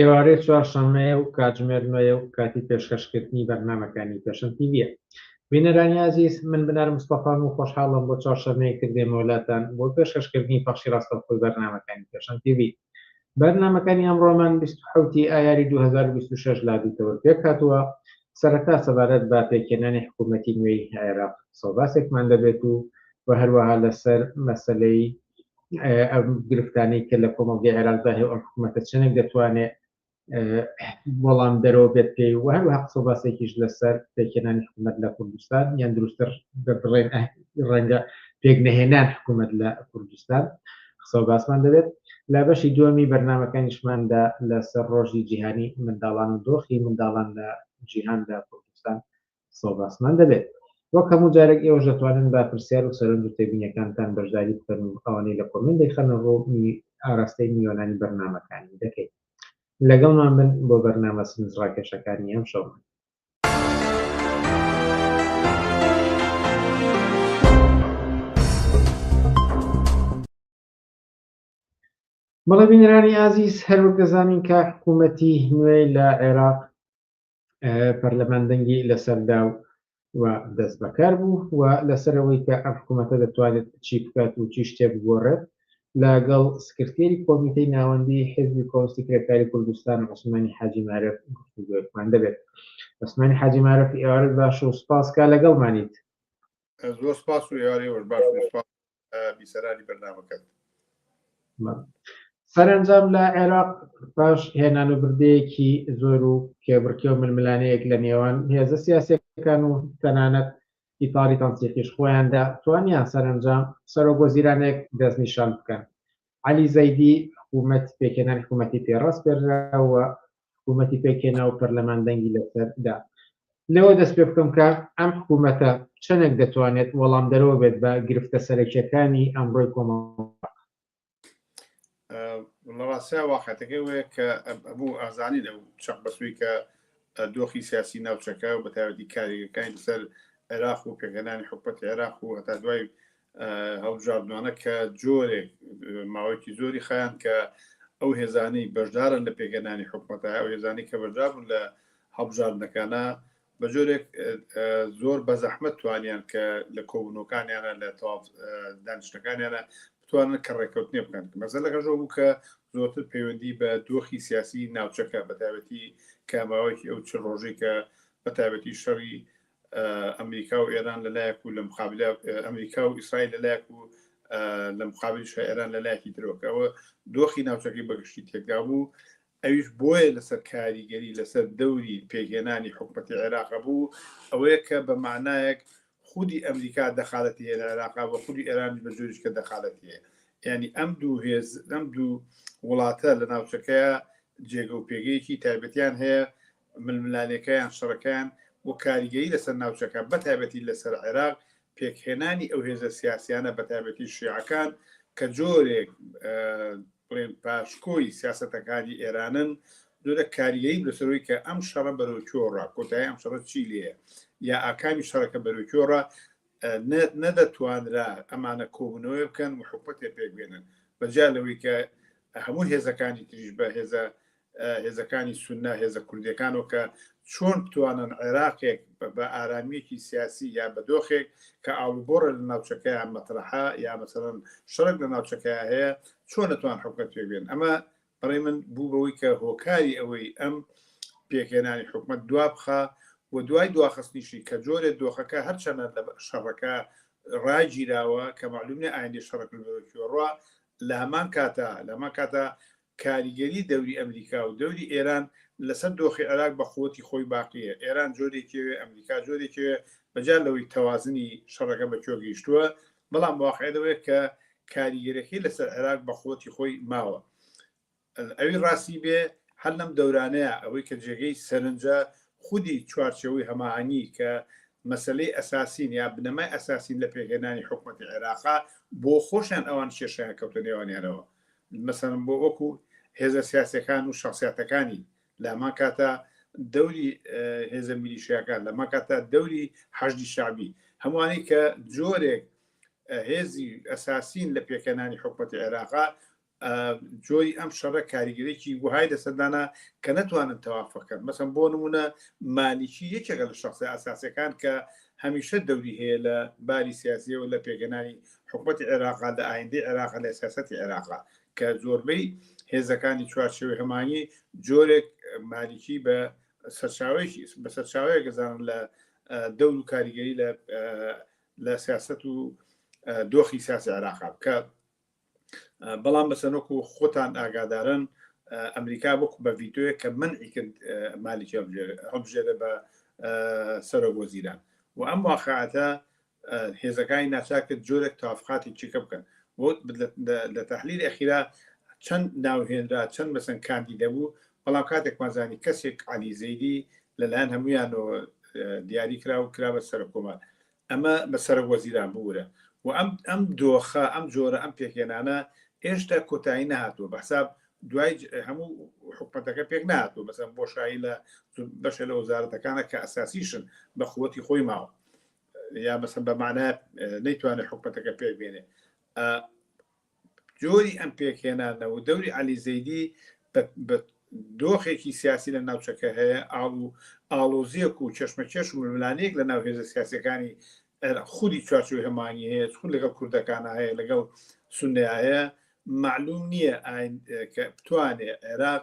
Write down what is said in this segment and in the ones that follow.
ئێوارەی چوارشەممەیە و کاتژمێر نۆیە و کاتی پێشکەشکردنی بەرنامەکانی پێشەن تیویە بینەرانی عزیز من بنار مستەفام و خۆشحاڵم بۆ چوارشەممەیەکتر دێمەوەلاتان بۆ پێشکەشکردنی پەخشی ڕاستەوخۆی بەرنامەکانی پێشەن تیوی بەرنامەکانی ئەمڕۆمان 27 ی ئایاری 2026 لادیتەوە پێکهاتووە سەرەتا سەبارەت بە پێکهێنانی حکوومەتی نوێی عێراق سەوباسێکمان دەبێت و و هەروەها لەسەر مەسلەی گرفتانی کە لە کۆمەڵگەی عێراقدا هێو ئەم حکوومەتە چەندێک دەتوانێت وەڵام دەرەوە بێت پێی و هەروە قسە باسێکیش لەسەر پێکێنانی حکوومەت لە کوردستان یان دروستتر بڵێن ڕەنگە پێک نەهێنان حکوومەت لە کوردستان قسە باسمان دەبێت لە بەشی دووەمی بەرنمەکانیشماندا لەسەر ڕۆژی جیهانی منداڵان و دۆخی منداڵان لە جیهاندا کوردستان قسە و باسمان دەبێت. وەک هەموو جارێک ئێوەش دەتوانن بە پرسیار و سەرنج و تێبینیەکانتان بەشداری بکەن و ئەوانەی لە کۆمێنت دەیخەنە ڕوو ئاراستەی میوانانی بەرنامەکانی دەکەین. لەگەڵمان بن بۆ بەرنامە سنج ڕاکێشەکانی ئەمشەومان. بەڵێ بینەرانی ئازیز هەروەک دەزانین کە حکوومەتی نوێ لە عێراق پەرلەمان دەنگی لەسەردا و و دەست بەکار بوو و لەسەرەوەی کە ئەم حکوومەتە دەتوانێت چی بکات و چی شتێ بگۆڕێت لەگەڵ سکرتێری کۆمیتەی ناوەندی حزبی کۆستی کرێکاری کوردستان عوسمانی حاجی مارف گفتوگوێکمان دەبێت عوسمانی حاجی مارف ئێوارت باش و سپاس کا لەگەڵمانیت زۆر سپاس و ئێوارەوەش باش سپاس بیسەرانی بەرنمەکەت سەرنجام لە عێراق پاش هێنان و بردەیەکی زۆر و کێبڕکێ و ململانەیەک لە نێوان هێزە سیاسەکان و تەنانەت ئیتاری تەنسیقیش خۆیاندا توانیان سەرنجام سەرۆک وەزیرانێک دەستنیشان بکەن علی زەیدی حکوومەت پێکێنان حکوومەتی پێڕاست پێراوە حکوومەتی پێکهێنا و پەرلەمان دەنگی لەسەر دا. لەوە دەست پێ بکەم کە ئەم حکوومەتە چەندێک دەتوانێت وەڵامدەرەوە بێت بە گرفتە سەرەکییەکانی ئەمڕۆی کۆمەڵگا. لە ڕاستیا واقعەتەکەی وەیە کە هەموو ئازانین ئەو چەق بەسووی کە دۆخی سیاسی ناوچەکە و بەتایبەتی کارێکەکانی لەسەر عێراق و پێکهێنانی حکومەتی عێراق و هەتا دوای هەڵبژاردنانە کە جۆرێک ماوەیەکی زۆری خیان کە ئەو هێزانی بەشدارن لە پێکەنانی حکوومەتە ئەو هێزانی کە بەشدابوون لە هەڵبژاردنەکانە بە جۆرێک زۆر بە زەحمەت توانیان کە لە کۆبنەکانیانە لە تاو دانیشتەکانیانە بتوانن کە ڕێککەوتنی بکەن مەزە لەگەژەوە بوو کە زۆرتر پەیوەندی بە دۆخی سیاسی ناوچەکە بەتابەتی کاماوەیەکی ئەو چ ڕۆژێکە بەتابەتی شەڕی ئەمریکا و ئێران لەلایەک و لە مقابل ئەمریکا و ئیسرائیل لەلایەک و لە مقابل شاعران لە لایەکی درۆکەوە دۆخی ناوچەکەی بەگشتی تێکدا بوو ئەویش بۆیە لەسەر کاریگەری لەسەر دەوری پێگەێنانی حکوومەتی عێراق بوو ئەوەیە کە بە مانایەک خودی ئەمریکا دەخالەتی لە عێراقا بە خودی ئێرانی بە جۆریش کە دەخالەتیە ینی ئەم دوو هێز ئەم دوو وڵاتە لە ناوچەکەیە جێگە و پێگەیەکی تایبەتیان هەیە ململانێکەیان، شەڕەکەیان و کاریگەری لەسەر ناوچەکە، بەتایبەتی لەسەر عێراق، پێکهێنانی ئەو هێزە سیاسیانە بەتایبەتی شیعەکان کە جۆرێک بڵێن پاشکۆی سیاسەتەکانی ئێرانن، جۆرە کاریگەری لەسەرەوەی کە ئەم شەڕە بەرەو کۆڕە کۆتایی ئەم شەڕە چی لێە یا ئاکامی شەڕەکە بەرەو کۆڕە نەدەتوانرا ئەمانە کۆبنەوەی بکەن و حکوەتێ پێکبێنن بەجیا لەوەی کە هەموو هێزەکانی تریش بە هێزە هێزەکانی سونە هێزە کوردیەکانەوە کە چۆن بتوانن عێراقێک بە ئارامیەکی سیاسی یا بە دۆخێک کە ئاڵوبۆڕە لە ناوچەکەیان مەترەحە یا مەسەرەن شەرک لە ناوچەکە هەیە چۆن لەتوان حکومت پێبێن ئەمە بەڕێ من بوو بەوەی کە هۆکاری ئەوەی ئەم پێکێنانی حکومت دوا بخە و دوای دواخستنیشی کە جۆرە دۆخەکە هەرچەنە لە شەڕەکە ڕاگیراوە کە معلومە ئایندی شەڕک لەڕوا لە هەمان کاتە لەمە کاتە کاریگەری دەوری ئەمریکا و دەوری ئێران لەسەر دۆخی عێراق بە قوتی خۆی باقیە، ئێران جۆرێکی ئەوێ ئەمریکا جۆرێکی ئەوێ، بە جیا لەوەی تەوازنی شەڕەکە بە کوێ گەیشتووە، بەڵام واقیع لەوەیە کە کاریگەریەکەی لەسەر عێراق بە قوتی خۆی ماوە. ئەوی ڕاستی بێ هەر لەم دەورانەیا ئەوەی کە جێگەی سەرنجە خودی چوارچێوەی هەماهەنگی کە مەسەلەی ئەساسین یا بنەمای ئەساسین لە پێکهێنانی حکومەتی عێراقە، بۆ خۆشیان ئەوان کێشەیان کەوتە نێوانیانەوە. مەسەلەن بۆ وەکو هێزە سیاسەکان و شخصیاتەکانی لامان کاتە دەوری هێزە میلیشیاکان لەما کاتە دەوری حەشدی شعبی هەمووانی کە جۆرێک هێزی ئەساسین لە پێکەنانی حکوومەت عێراقا جۆری ئەم شەڕە کاریگەرێکی وهای لە سەردانە کە نەتوانن تەوافەکەن مەسم بۆ نمونە مالیکی یەکێکە لە شخصی ئاساسەکان کە هەمیشە دەوری هەیە لە باری سیاسیەوە لە پێگەنانی حکومەتی عێراقە، لە ئایندەی عێراقە، لە سیاسەتی عێراقە کە زۆربەی هێزەکانی چوارچێوەی هەمانیی جۆرێک مالیکی بە سەرچاوەیەکی بە سەرچاوەیەک دەزانن لە دەور و کاریگەری لە لە سیاست و دۆخی سیاسی عێراقا بکە بەڵام بەسەرۆک و خۆتان ئاگادارن ئەمریکا بک بە ڤیتۆیە کە من ئیکرد مالیکی هەبژێرە بە سەرۆک وەزیران و ئەم واقعاتە هێزەکانی ناچار کرد جۆرێک تەوافقاتی چیکە بکەن بۆ لە تحلیلی ئەخیرا چەند ناوهێنرا چەند بەسەن کاندی دەبوو بەڵام کاتێکمان زانی کەسێک علی زەیدی لەلایەن هەمویانەوە دیاری کرا و کرا بە سەر کۆمان ئەمە بە سەر وەزیران بورە و ئەم ئەم دۆخە ئەم جۆرە ئەم پێکێنانە هێشتا کۆتایی نهاتوە بە حساب دوای هەموو حکومەتەکە پێک ناتوە بەسم بۆشایی لە بەشە لە وەزارەتەکانە کە ئەساسیشن بە قوتی خۆی ماوە یا مەسەن بە معنای نەیتوانێت حکومەتەکە پێک بێنێ جۆری ئەم پێکهێنانە و دەوری علی زەیدی دۆخێکی سیاسی لە ناوچەکە هەیە ئاڵ و ئاڵۆزیەک و چشمەکێش و ململانەیەک لە ناو هێزە سیاسەکانی خودی چوارچوی هەمانی هەیە خود لەگەڵ کوردەکان هەیە لەگەڵ سنیا هەیە معلوم نییە بتوانێت عێراق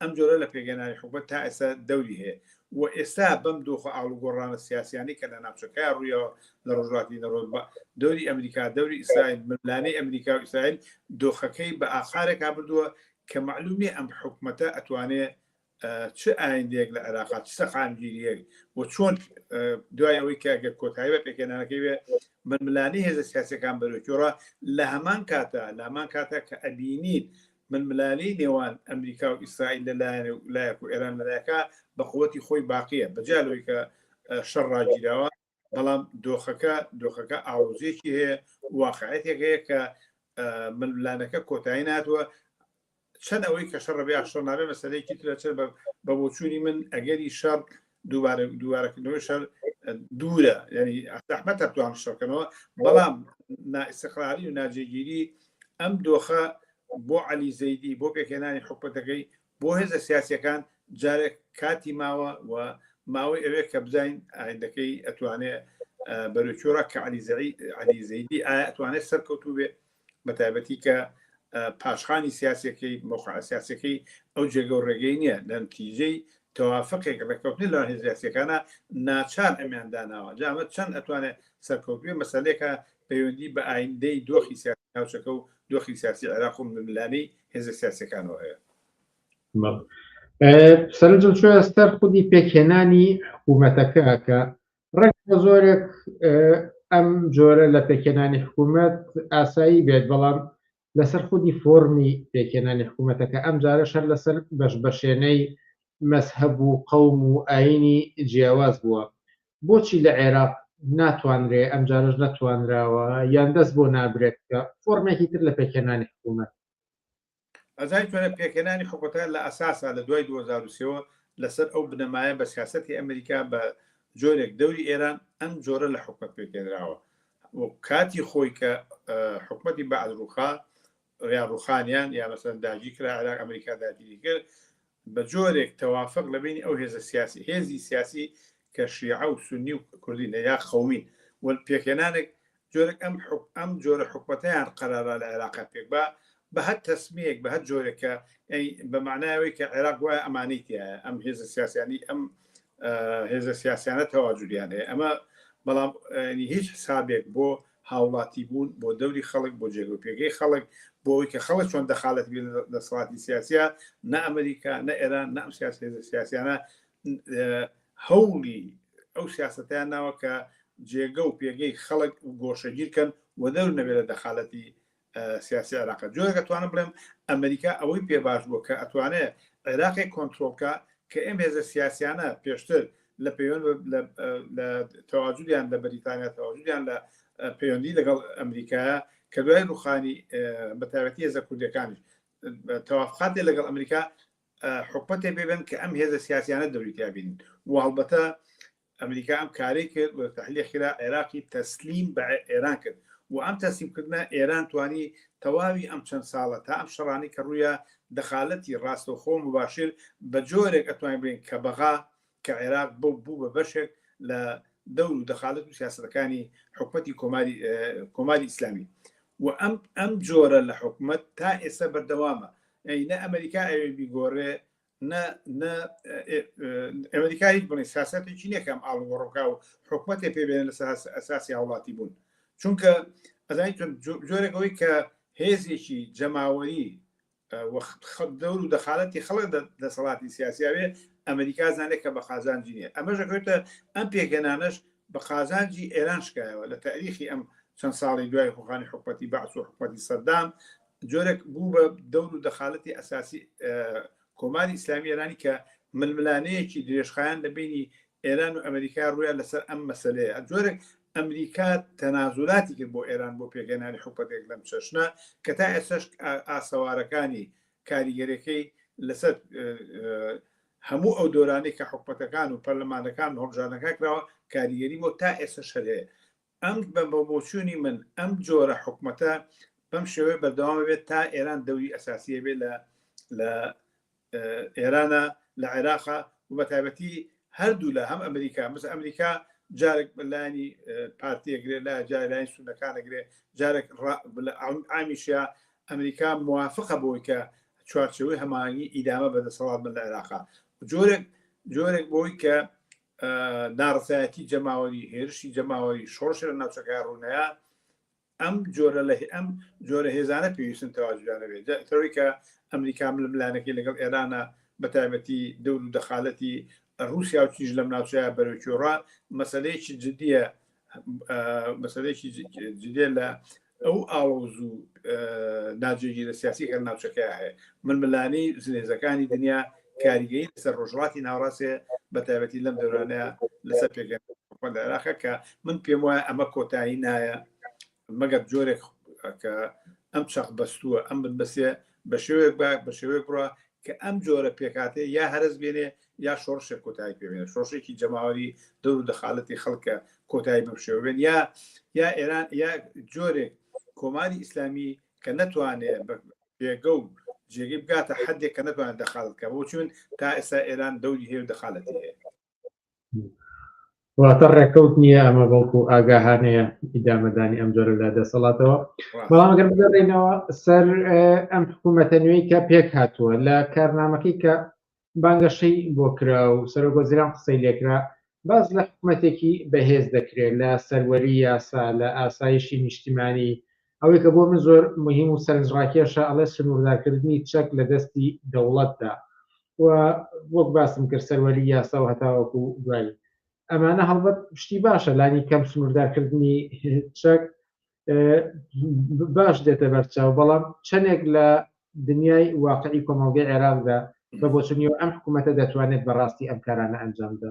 ئەم جۆرە لە پێکهێنانی حکومەت تا ئێستا دەوری هەیە و ئێستا بەم دۆخ و ئاڵوگۆڕانە سیاسییانەی کە لە ناوچەکەیان ڕوویەوە لە ڕۆژهەڵاتی نەڕۆ بە دەوری ئەمریکا، دەوری ئیسرائیل، ململانێی ئەمریکا و ئیسرائیل دۆخەکەی بە ئاقارێکا بردووە کە مەعلووم نییە ئەم حکومەتە ئەتوانێ چ ئایندەیەک لە عێراقا، چ سەقامگیرییەک و چۆن دوای ئەوەی کە گەر کۆتایی بە پێکهێنانەکەی بێ ململانێی هێزە سیاسییەکان بەرەوەی گۆڕا لە هەمان کاتا لە هەمان کاتا کە ئەبینین ململانێی نێوان ئەمریکا و ئیسرائیل لە لایەک و ئێران لە لایەکە بە قوتی خۆی باقیە بە جیا لەوەی کە شەڕ ڕاگیراوە بەڵام دۆخەکە دۆخەکە ئاڵۆزیەکی هەیە واقعەتێک هەیە کە ململانەکە کۆتایی ناتوە چەند ئەوەی کە شەڕ بێ شەڕ نابێ مەسەلەیەکی ترە چەر بە بۆچووی من ئەگەری شەڕ دووبارە دووارەکردنەوەی شەر دوورە ینی ئەحمە تەتوان شەکەنەوە بەڵام نائسقراری و ناجێگیری ئەم دۆخە بۆ علی زەیدی بۆ پێکێنانی حکوەتەکەی بۆ هێزە سیاسەکان جارێک کاتی ماوە و ماوەی ئەوێ کە بزین ئایندەکەی ئەتوانێ بەرەچۆرە کە علی زەعی علی زەیدی ئایا ئەتوانێت سەرکەوتوو بێ بە تایبەتی کە پاشخانی سیاسەکەی مۆقعسیاسەکەی ئەو جێگە و ڕێگەی نییە لە نتیجەی تەوافقێک ڕێککەوتنی لە هێزیاسەکانە ناچار ئەمیان داناوە جامە چەند ئەتوانێت سەرکەوتوێ مەسلێکە پەیوەندی بە ئایندەی دۆخی سیاسی ناوچەکە و دۆخی سیاسی عێراق و ملانی هێزە سیاسەکانەوە هەیە سەرنجم چۆ ئەستەر خودی پێکهێنانی حکوومەتەکە کە ڕێک بە زۆرێک ئەم جۆرە لە پێکێنانی حکوومەت ئاسایی بێت بەڵام لەسەر خودی فۆرمی پێکێنانی حکوومەتەکە ئەم جارە شەر لەسەر بەش بەشێنەی مەسهب و قەوم و ئاینی جیاواز بووە بۆچی لە عێراق ناتوانرێ ئەم جارش نەتوانراوە یان دەست بۆ نابرێت کە فۆرمێکی تر لە پێکێنانی حکوومەت ئەزانی چۆنە پێکهێنانی حکومەتەکان لە ئەساسا لە دوای دوو هەزار و سێ وە لەسەر ئەو بنەمایە بە سیاسەتی ئەمریکا بە جۆرێک دەوری ئێران ئەم جۆرە لە حکومەت پێکهێنراوە و کاتی خۆی کە حکومەتی بەعد ڕوخا ڕیا ڕوخانیان یا مەسەن داگی کرا عێراق ئەمریکا داگیری کرد بە جۆرێک تەوافق لە بەینی ئەو هێزە سیاسی، هێزی سیاسی کە شیعە و سوننی و کوردینە یا قەومین و پێکهێنانێک جۆرێک ئەم ئەم جۆرە حکومەتەیان قەرارا لە عێراقا پێک با بە هەر تەسمیەک بە هەر جۆرێک کە ئەی بە معنای ئەوەی کە عێراق وایە ئەمانەی تایە ئەم هێزە سیاسیانی ئەم هێزە سیاسیانە تەواجودیان هەیە ئەمە بەڵام هیچ حسابێک بۆ هاوڵاتی بوون بۆ دەوری خەڵک، بۆ جێگە و پێگەی خەڵک، بۆ ئەوەی کە خەڵک چۆن دەخالەت بێت لە دەسەڵاتی سیاسییا، نە ئەمریکا، نە ئێران، نە ئەم سیاسی هێزە سیاسیانە هەوڵی ئەو سیاسەتەیان ناوە کە جێگە و پێگەی خەڵک گۆشەگیر کەن و دەور نەبێت لە دەخالەتی سیاسی عێراق جۆرێک ئەتوانم بڵێم ئەمریکا ئەوەی پێ باش بووە کە ئەتوانێت عێراقی کۆنتترۆلکە کە ئەم هێزە سیاسیانە پێشتر لە پەیوەند لە تەواجودیان لە بەریتانیا تەواجودیان لە پەیوەندی لەگەڵ ئەمریکایە کە دوای ڕوخانی بەتاوەتی هێزە کوردەکانیش تەوافقاتێ لەگەڵ ئەمریکا حکومەتێ بێبن کە ئەم هێزە سیاسیانە دەوریتیابین و هەڵبەتە ئەمریکا ئەم کارەی کرد و تەحلیە خیرا عێراقی تەسلیم بە ئێران کرد و ئەم تەسلیم کردنە ئێران توانی تەواوی ئەم چەند ساڵە تا ئەم شەڕانەی کە ڕوویا دەخالەتی ڕاستەوخۆ مباشر بە جۆرێک ئەتوانین بڵێین کە بەغا کە عێراق بوو بوو بە بەشێک لە دەور و دەخالەت و سیاسەتەکانی حکومەتی کۆماری کۆماری ئیسلامی و ئەم ئەم جۆرە لە حکومت تا ئێستا بەردەوامە ئەی نە ئەمریکا ئەوێ بیگۆڕێ ئەمریکا هیچ بڵێ ساسەتێکی نەکەم ئاڵ وەڕۆکا و حکوومەتێ پێبێن لە ئەساسی هاوڵاتی بوون چونکە ئەزای جۆرەکەەوەی کە هێزێکی جەماوەری وەخت خەت دەور و دەخالەتی خەڵک دەسەڵاتی سیاسیاوێ ئەمریکا زانێت کە بە قازانجی نیە ئەمە ژەکەوتە ئەم پێگەنانەش بە قازانجی ئێران شکایەوە لە تاریخی ئەم چەند ساڵی دوای خوخانی حکوپەتی بەعس و حکوپەتی سەدام جۆرێک بوو بە دەور و دەخالەتی ئەساسی کۆماری ئیسلامی ئێرانی کە ململانەیەکی درێژخایەن لە بینی ئێران و ئەمریکا ڕویان لەسەر ئەم مەسلەیە جۆرێک ئەمریکا تەنازولاتی کرد بۆ ئێران بۆ پێگەنانی حکوپەتێک لەم چەشنە کە تا ئێسش ئاسەوارەکانی کاریگەرەکەی لەسەر هەموو ئەو دۆرانی کە حکوپەتەکان و پەرلەمانەکان هەڵبژانەکە کراوە کاریگەری بۆ تا ئێسش هەر هەیە ئەم بە بۆچوونی من ئەم جۆرە حکومەتە بەم شێوەیە بەردەوام بێت تا ئێران دەوری ئەساسی هەبێت لە لە ئێرانە لە عێراقە و بە تایبەتی هەردوو لە هەم ئەمریکا مەس ئەمریکا جارێک بەلانی پارتیەگرێ لە جارلاین سونەکانەگرێ جارێک ئامیشە ئەمریکا موافقە بۆی کە چوارچەوەی هەمانگی ئیدامە بەدەسەڵات بە لە عێراقا جۆرێک جۆرێک بۆی کە نارەسایەتی جەماوەری هێرشی جەماوەری شۆڕشە لە ناوچەکە ڕوونەیە ئەم جۆرە لە ئەم جۆرە هێزانە پێویستن تەواجدانەوێت تەوەی کە ئەمریکا ململانەکەی لەگەڵ ئێرانە بە تایبەتی دەور و دەخالەتی رووسیا و چیش لەم ناوچەیە بەرەوکیۆڕا مەسلەیەکی جددیە مەسلەیەکی جدێ لە ئەو ئاڵۆز و ناجێگیرە سیاسی کە لە ناوچەکەیا هەیە، ململانێی زلهێزەکانی دنیا کاریگەی لەسەر ڕۆژهەڵاتی ناوەڕاست هەیە، بە تایبەتی لەم دەورانەیا لەسەر پێگەی حکومەت لە عێراقە کە من پێم وایە ئەمە کۆتایی نایە مەگەر جۆرێک کە ئەم چەق بەستووە، ئەم بنبەستە بە شێوەیەک بە شێوەیەک بڕا کە ئەم جۆرە پێکهاتەیە یا هەرەس بێنێ یا شۆڕشێک کۆتایی پێ بێنێ، شۆڕشێکی جەماوەری دەور و دەخالەتی خەڵکە کۆتایی بەم شێوە بێن یا یا ئێران یا جۆرێک کۆماری ئیسلامی کە نەتوانێ بە پێگە و جێگەی بگاتە حەدێک کە نەتوانێت دەخالەت بکات. بۆچی من تا ئێستا ئێران دەوری هەیە و دەخالەتی هەیە. واتە ڕێکەوت نییە ئەمە بەڵکو ئاگاهانەیە ئیدامەدانی ئەم جۆرە لە دەسەڵاتەوە بەڵام گەر بگەڕێنەوە سەر ئەم حکوومەتە نوێی کە پێک هاتووە لە کارنامەکەی کە بانگەشەی بۆ کرا و سەرۆگۆزیران قسەی لێکرا باز لە حکوومەتێکی بەهێز دەکرێت لە سەروەری یاسا لە ئاسایشی نیشتیمانی ئەوەی کە بۆ من زۆر مهیم و سەرنجڕاکێشە ئەڵێ سنووردارکردنی چەک لە دەستی دەوڵەتدا و وەک باسم کرد سەروەری یاسا و هەتاوەکو دوایی ئەمانە هەڵبەت شتی باشە لانی کەم سنووردارکردنی چەک باش دێتە بەرچاو بەڵام چەندێک لە دنیای واقعی کۆمەڵگەی عێراقدا بە بۆچنیەوە ئەم حکوومەتە دەتوانێت بەڕاستی ئەم کارانە ئەنجامدا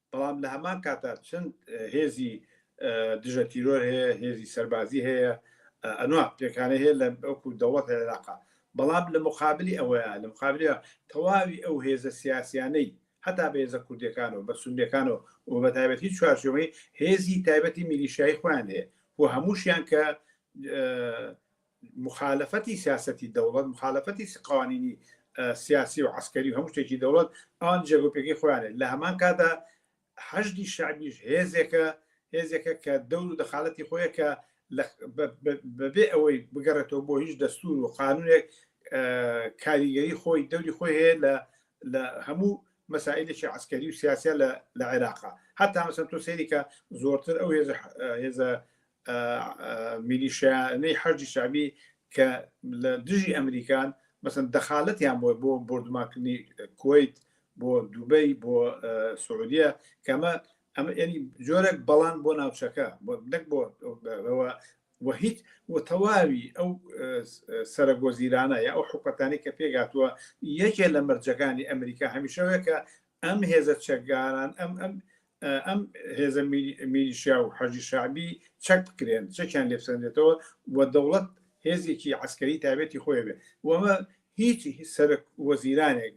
بەڵام لە هەمان کاتدا چەند هێزی دژە تیرۆر هەیە، هێزی سەربازی هەیە، ئەنوا پێکانەی هەیە لە وەکو دەوڵەتی عێراقا. بەڵام لە موقابلی ئەوەیا، لە موقابلی تەواوی ئەو هێزە سیاسیانەی هەتا بە هێزە کوردیەکانەوە، بە سونیەکانەوە و بە تایبەت هیچ چوارچێوەی هێزی تایبەتی میلیشیایی خۆیان هەیە و هەمووشیان کە موخالەفەتی سیاسەتی دەوڵەت، موخالەفەتی قوانینی سیاسی و عەسکەری و هەموو شتێکی دەوڵەت ئەوان جێگۆپێکی خۆیانێت لە هەمان کادا حەشدی شعبیش هێزێکە هێزێکە کە دەور و دەخالەتی خۆیە کە بەبێ ئەوەی بگەڕێتەوە بۆ هیچ دەستور و قانونێک کاریگەری خۆی دەوری خۆی هەیە لە لە هەموو مەسائلێکی عسکەری و سیاسە لە عێراقا هەتا مەسەن تۆ سێریکە زۆرتر ئەو هێزە هێزە میلیشیانەی حەشدی شەعبی کە لە دژی ئەمریکان مەسن دەخالەتیان بۆ بۆ بردوماکردنی کویت بۆ دوبەی بۆ سعودیە کەمە ئەمە ینی جۆرێک بەڵان بۆ ناوچەکە نەک بۆ و هیچ و تەواوی ئەو سەرگۆزیرانە یا ئەو حکوەتانی کە پێگاتووە یەکێ لە مەرجەکانی ئەمریکا هەمیشەوەیە کە ئەم هێزە چەکگاران ئەم ئەم ئەم هێزە میلیشیا و حەجی شعبی چەک بکرێن چەکیان لێبسەندێتەوە و دەوڵەت هێزێکی عسکەری تابێتی خۆی بێ وەمە هیچ سەرک وەزیرانێک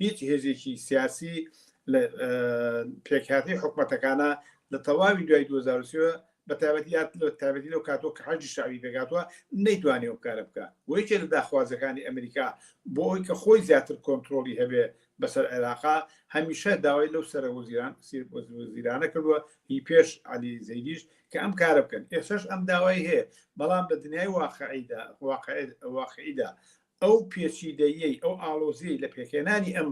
هیچ هێزێکی سیاسی لە پێکاتی حکومەتەکانە لە تەواوی دوای 2023 بە تابەتی یاد لە تابەتی لەو کاتۆ کە حەجی شاوی دەگاتوە نەیتوانێ و کارە بکە وەیکێ لە داخوازەکانی ئەمریکا بۆ ئەوی کە خۆی زیاتر کۆنتترۆلی هەبێ بەسەر عێراقا هەمیشە داوای لەو سەرە وەزیران وەزیرانە کردووە هی پێش عەلی زەیدیش کە ئەم کارە بکەن ئێسش ئەم داوای هەیە بەڵام لە دنیای واقعیدا واقعیدا ئەو پێچیدەیەی ئەو ئاڵۆزی لە پێکێنانی ئەم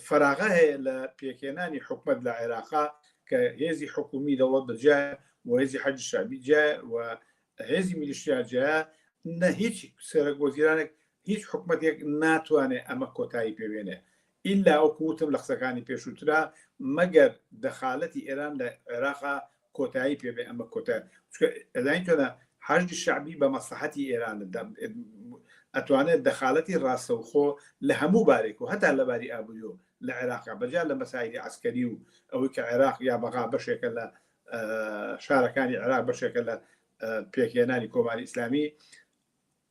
فراغە هەیە لە پێکێنانی حکومت لە عێراقا کە هێزی حکومی دەوڵەت بەجیا و هێزی حەج شابی جا و هێزی میلیشیا جا نە هیچ سەرک وەزیرانێک هیچ حکومەتێک ناتوانێ ئەمە کۆتایی پێ بێنێ ئیلا وەکو وتم لە قسەکانی پێشووترا مەگەر دەخالەتی ئێران لە عێراقا کۆتایی پێ بێ ئەمە کۆتە چونکە ئەداین تۆدا حەشدی شەعبی بە مەسلحەتی ئێران ئەتوانێت دەخالەتی ڕاستەوخۆ لە هەموو بارێک و هەتا لەباری ئابووری و لە عێراقا بەجیا لە مەسایلی عسکەری و ئەوەی کە عێراق یا بەغا بەشێکە لە شارەکانی عێراق بەشێکە لە پێکهێنانی کۆماری ئیسلامی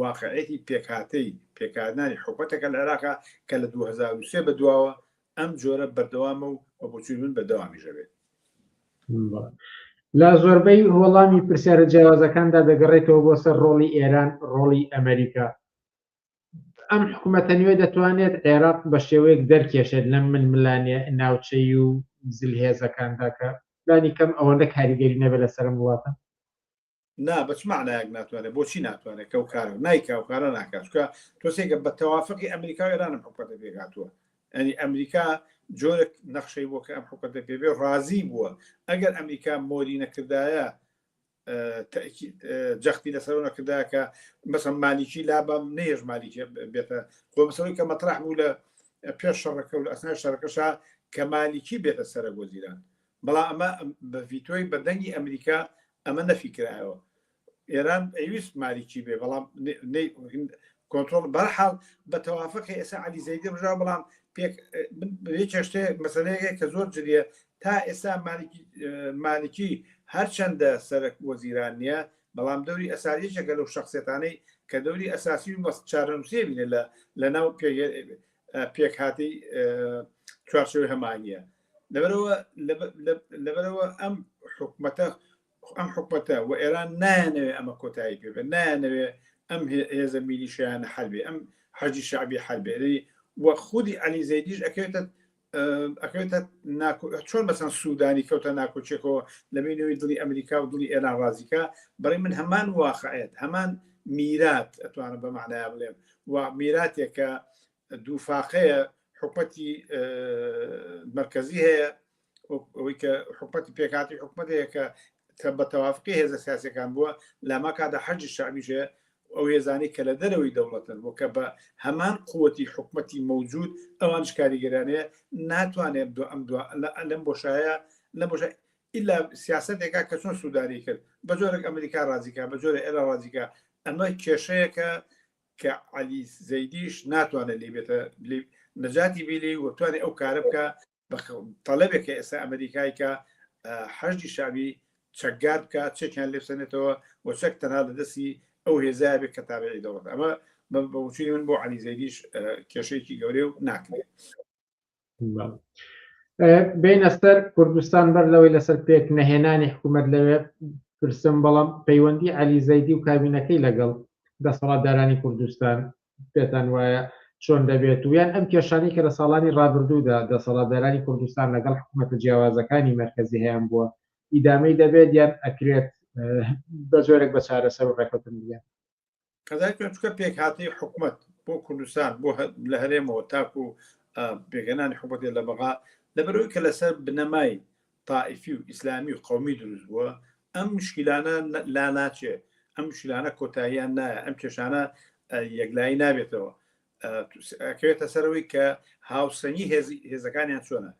واقعیەتی پێکهاتەی پێکهاتنانی حکومەتەکە لە عێراقە کە لە دوو هەزار و سێ بەدواوە ئەم جۆرە بەردەوامە و بە بۆچوونی من بەردەوامیش دەبێت. لە زۆربەی وەڵامی پرسیارە جیاوازەکاندا دەگەڕێتەوە بۆ سەر ڕۆڵی ئێران، ڕۆڵی ئەمەریکا. ئەم حکومەتە نوێ دەتوانێت عێراق بە شێوەیەک دەرکێشێت لەم ململانێ ناوچەیی و زلهێزەکاندا کە لانی کەم ئەوەندە کاریگەری نەبێت لەسەر ئەم وڵاتە؟ نا بەچ معنایەک ناتوانێت بۆچی ناتوانێت کەو کار نایکاو کارە ناکاتکە تۆسێکە بە تەوافقی ئەمریکا ئێرانم حکوەتە پێکاتوە ئەنی ئەمریکا جۆرە نەخشەی بۆ کە ئەم حکوەتە پێبێ ڕازی بووە ئەگەر ئەمریکا مۆری نەکردایە جەختی لەسەر نەکرداکە مەسە مالیکی لابم نێژ مالیکی بێتە خۆمەسەوەی کە مەتراح بوو لە پێش شەڕەکە و لە ئەسنا شەرەکەشا کە مالیکی بێتە سەرە بۆ زیران بەڵام ئەمە بە ڤیتۆی بەردەنگی ئەمریکا ئەمە نەفیکرایەوە ئێران ئەویست ماریکی بێ بەڵام کۆنتۆل بەرحاڵ بە تەوافقی ئێسا علی زەیدی ڕژا بەڵام پێک چێشتێ مەسلەیە کە زۆر جریە تا ئێستا مالکی هەرچەندە سەرک وەزیران نییە بەڵام دەوری ئەساریشەکە لەو شخصێتانەی کە دەوری ئەساسی و بەست چارەنووسێ بینێ لە لە ناو پێک هاتی چوارچەوەی هەمانە لەبەرەوە لەبەرەوە ئەم حکومەتە ئەم حکومەتە و ئێران نایانەوێ ئەمە کۆتایی پێ بێت نایانەوێ ئەم هێزە میلیشیانە حربێ ئەم حەجی شعبی حربێ و خودی علی زەیدیش ئەکەوێتە ئەکەوێتە چۆن مەسان سوودانی کەوتە ناکۆچێکەوە لە بینەوەی دڵی ئەمریکا و دڵی ئێران ڕازیکە بڕی من هەمان واقعێت هەمان میرات ئەتوانم بە معنایا بڵێم و میراتێکە دوو فاقەیە حکومەتی مەرکزی هەیە ئەوەی کە حکومەتی پێکاتی حکومەتەیە کە کە بە تەوافقی هێزە سیاسەکان بووە لاما کادا حەجی شعبیشەیە ئەو هێزانی کە لە دەرەوەی دەوڵەتن بۆ کە بە هەمان قوتی حکومەتی مەوجود ئەوان شکاریگەرانەیە ناتوانێت دو ئەم دو لەم بۆشایە لە بۆش ئللا سیاستێکا کە چۆن سووداری کرد بە جۆرێک ئەمریکا ڕازیکە بە جۆرە ئێرە ڕازیکە ئەمە کێشەیەکە کە عەلی زەیدیش ناتوانێت لێی بێتە لێ نەجاتی بی لێی و بتوانێت ئەو کارە بکە بە تەلەبێک کە ئێستا ئەمریکای کە حەجی شابی چەکگار بکە چەکیان لێسەنێتەوە و چەک تەنها لە دەستی ئەو هێزای بێت کە تابعی دەوڵەت ئەمە بەوچوی من بۆ عەلی زەیدیش کێشەیەکی گەورەیە و ناکرێت بینە سەر کوردستان بەر لەوەی لەسەر پێک نەهێنانی حکوومەت لەوێ پرسم بەڵام پەیوەندی علی زەیدی و کابینەکەی لەگەڵ دەسەڵاتدارانی کوردستان پێتان وایە چۆن دەبێت و یان ئەم کێشانی کە لە ساڵانی ڕابردوودا دەسەڵاتدارانی کوردستان لەگەڵ حکوومەتە جیاوازەکانی مەرکەزی هەیان بووە ئیدامەی دەبێت یان ئەکرێت بە جۆرێک بە چارەسەر و ڕێکەوتن بگەن قەزای پێچکە پێکهاتەی حکومت بۆ کوردستان بۆ لە هەرێمەوە تاکو بێگەنانی حکومەتێ لە بەغا لەبەرەوەی کە لەسەر بنەمای تائیفی و ئیسلامی و قومی دروست بووە ئەم مشکلانە لا ناچێ ئەم مشکلانە کۆتاییان نایە ئەم کێشانە یەکلایی نابێتەوە کەوێتە سەرەوەی کە هاوسەنگی هێزەکانیان چۆنە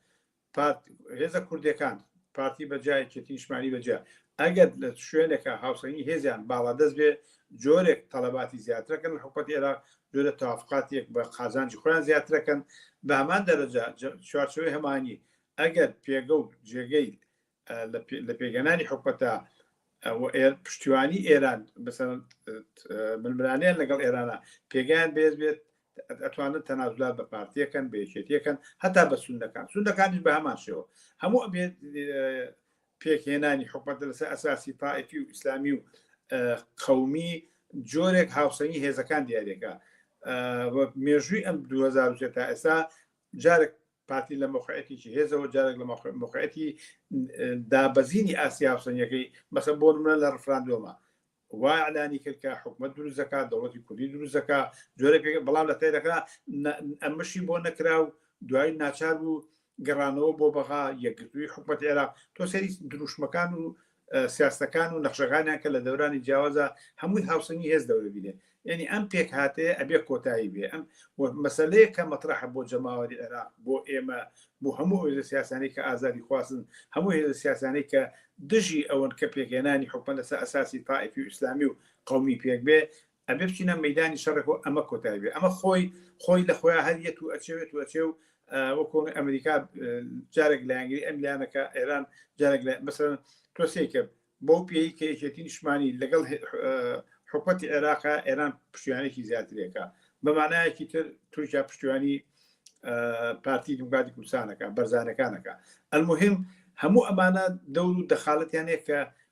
پارت هێزە کوردیەکان پارتی بە جا یەکێتی نیشتمانی بە جا ئەگەر لە شوێنێکە هاوسەنگی هێزیان باڵادەست بێ جۆرێک تەڵەباتی زیاترەکەن لە حکومەتی ئێراق جۆرە تەوافقاتێک بە قازانجی خۆیان زیاترەکەن بە هەمان دەرەجە چوارچێوەی هەمانی ئەگەر پێگە و جێگەی لە پێکهێنانی حکومەتە پشتیوانی ئێران بەسەر ململانیان لەگەڵ ئێرانە پێگیان بێز بێت ئەتوانن تەنازلات بە پارتیەکەن بێچێتیەکەن هەتا بە سونەکان سونەکانیش بە هەمان شێوە هەموو ئەبێت پێکهێنانی حکومەت لەسەر ئەساسی تائفی و ئیسلامی و قومی جۆرێک هاوسەنگی هێزەکان دیارێکە مێژووی ئەم 2010 تا ئێستا جارێک پارتی لە مەوقعیەتێکی هێزەوە جارێک لە مەوقعیەتی دابەزینی ئاستی هاوسەنگیەکەی مەسەن بۆ نمونە لە ڕفراندۆمە وا ئەلانی کرد کە حکومت دروست دەکات دەوڵەتی کوردی دروست دەکات جۆرە بەڵام لە تێدەکە ئەمەشی بۆ نەکرا و دوای ناچار بوو گەڕانەوە بۆ بەغا یەکگرتووی حکومت عێراق تۆ سەری دروشمەکان و سیاستەکان و نەخشەکانیان کە لە دەورانی جیاوازا هەمووی هاوسەنگی هێز دەورە بینێ یعنی ئەم پێک هاتەیە ئەبێ کۆتایی بێ ئەم مەسلەیە کە مەطرحە بۆ جەماوەری عێراق بۆ ئێمە بۆ هەموو هێزە سیاسانی کە ئازادی خواستن هەموو هێزە سیاسانی کە دژی ئەوەن کە پێکێنانی حکومە لەسەر ئەساسی تائفی و ئیسلامی و قومی پێک بێ ئەبێ بچینە مەیدانی شەڕێک و ئەمە کۆتای بێ ئەمە خۆی خۆی لە خۆیان هەر یەت و ئەچێت و ئەچێ و وەکۆ ئەمریکا جارێک لایەنگری ئەم لایەنەکە ئێران جارێک مەسەر تۆسێ کرد بۆ پێی کە یەکێتی نیشمانی لەگەڵ حکوەتی عێراقا ئێران پشتیانێکی زیاترێکە بەمانایەکی تر تورکیا پشتیوانی پارتی دیموکراتی کوردستانەکە بەرزانەکانەکە ئەلمهم هەموو ئەمانە دەور و دەخالەتیانەیە کە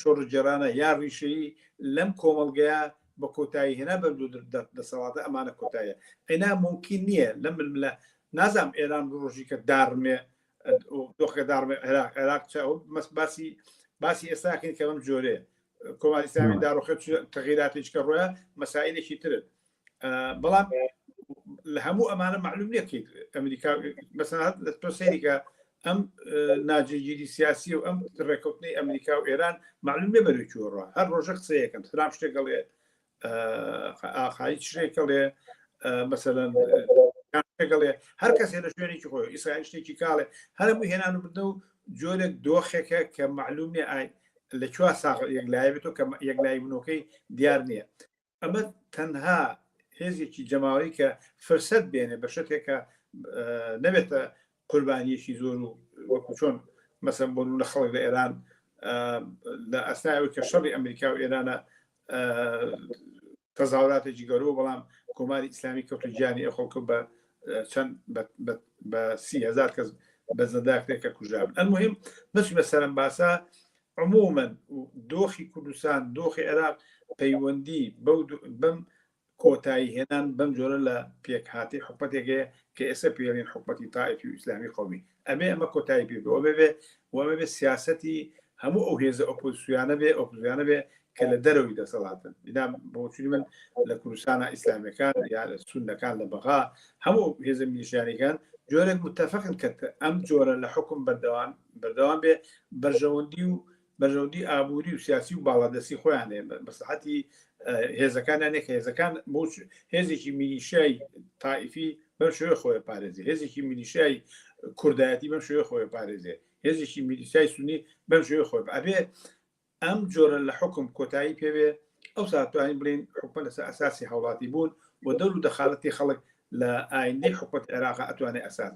شۆڕشگێڕانە یا ڕیشەیی لەم کۆمەڵگەیە بە کۆتایی هێنا بەم دوو دەسەڵاتە ئەمانە کۆتاییە ئەینا مومکین نییە لەم ململە نازانم ئێران ڕۆژی کە داڕمێ دۆخەکە داڕمێ عێراق عێراق چ ئەو مەس باسی باسی ئێستاکەین کە بەم جۆرێ کۆماری ئیسلامی داڕوخێ چ تەغیراتێکی کە ڕۆیە مەسائلێکی ترن بەڵام لە هەموو ئەمانە معلوم نیە کەیت ئەمریکا بەسەنات لە تۆ سەیریکە ئەم ناجێگیری سیاسی و ئەم ڕێکوتنی ئەمریکا و ئێران معلوم لێ بەرەی چۆڕە هەر ڕۆژە قسەیەکەم ترام شتێک گەڵێ ئاخایی شتێکەڵێ مەسەەن گەڵێ هەر کەسێ لە شوێنێکی خۆی ئیسرائیل شتێکی کاڵێ هەرموو هێنان و بدە و جۆرێک دۆخێکە کە معلوم نیە ئاین لە چوار ساغ یەکلای بێتەوە کە یەکلای منۆکەی دیار نییە ئەمە تەنها هێزێکی جەماوەری کە فرسەت بێنێ بە شتێکە نەبێتە قوربانیەکی زۆر و وەکو چۆن مەسم بۆ لە خەڵک لە ئێران لە ئەستایەوە کە شەڕی ئەمریکا و ئێرانە تەزاوراتێکی گەورەوە بەڵام کۆماری ئیسلامی کەوت و گیانی ئە خەڵکە بە چەند بە سیهزار کەس بە زەداکرێکە کوژران ئەمهم بەس بە سەرم باسە عمومەن دۆخی کوردستان دۆخی عێراق پەیوەندی بەو بەم کۆتایی هێنان بەم جۆرە لە پێکهاتی حکومەتێکەیە کە ئێستا پێڵین حکومەتی تاائفی و ئیسلامی قومی ئەبێ ئەمە کۆتایی پێ بۆ بێ وەمە بێ سیاستی هەموو ئەو هێزە ئۆپۆزیسیانە بێ ئۆپزیانە بێ کە لە دەرەوەی دەسەڵاتن بنا بۆچوی من لە کوردستانە ئیسلامەکان یا لە سونەکان لە بەغا هەموو هێزە میلیشیانەکان جۆرێک متتەفقن کە ئەم جۆرە لە حکم بەردەوام بەردەوام بێ بەرژەوەندی و بەرژەوەندی ئابووری و سیاسی و باڵادەستی خۆیان هەیە مەسلحەتی هێزەکانیان نەکە هێزەکان بۆچ هێزێکی میلیشای تائیفی بەم شێوە خۆی پارێزی هێزێکی میلیشای کوردایەتی بەم شێوە خۆی پارێزێ هێزێکی میلیشای سونی بەم شێوە خۆی ئەبێ ئەم جۆرە لە حوکم کۆتایی پێ بێ، ئەوسا دەتوانین بڵێین حکومەت لەسەر ئەساسی هاوڵاتی بوون و دەور و دەخالەتی خەڵک لە ئایندەی حکومەتی عێراقا ئەتوانێ ئەساس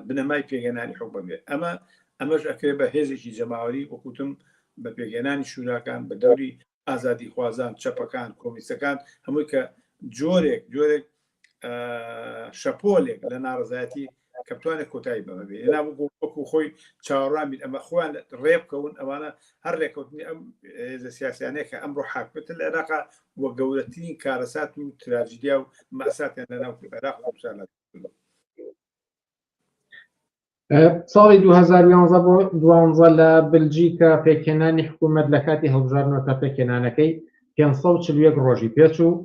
بنەمای پێگەێنانی حکومەت بێ. ئەمە ئەمەش ئەکرێ بە هێزێکی جەماوەری وەکوتم بە پێگەێنانی شوراکان بە دەوری ئازادیخوازان، چەپەکان، کۆمونیستەکان هەمووی کە جۆرێک جۆرێک شەپۆلێک لە ناڕەزایەتی کە بتوانێت کۆتایی بەمە بێ ئێنا بگو وەکو خۆی چاوەڕوان بین ئەمە خۆیان ڕێ بکەون ئەوانە هەر ڕێکەوتنی ئەم هێزە سیاسیانەیە کە ئەمڕۆ حاکمێتە لە عێراقا وە گەورەترین کارەسات و تراجیدیا و مەئساتیان لەناو عێراق و کوردستانا ساڵی 2011 بۆ دوانزە لە بلجیکە پێکهێنانی حکوومەت لە کاتی هەڵبژاردنەوە تا پێکهێنانەکەی 540 ڕۆژی پێچوو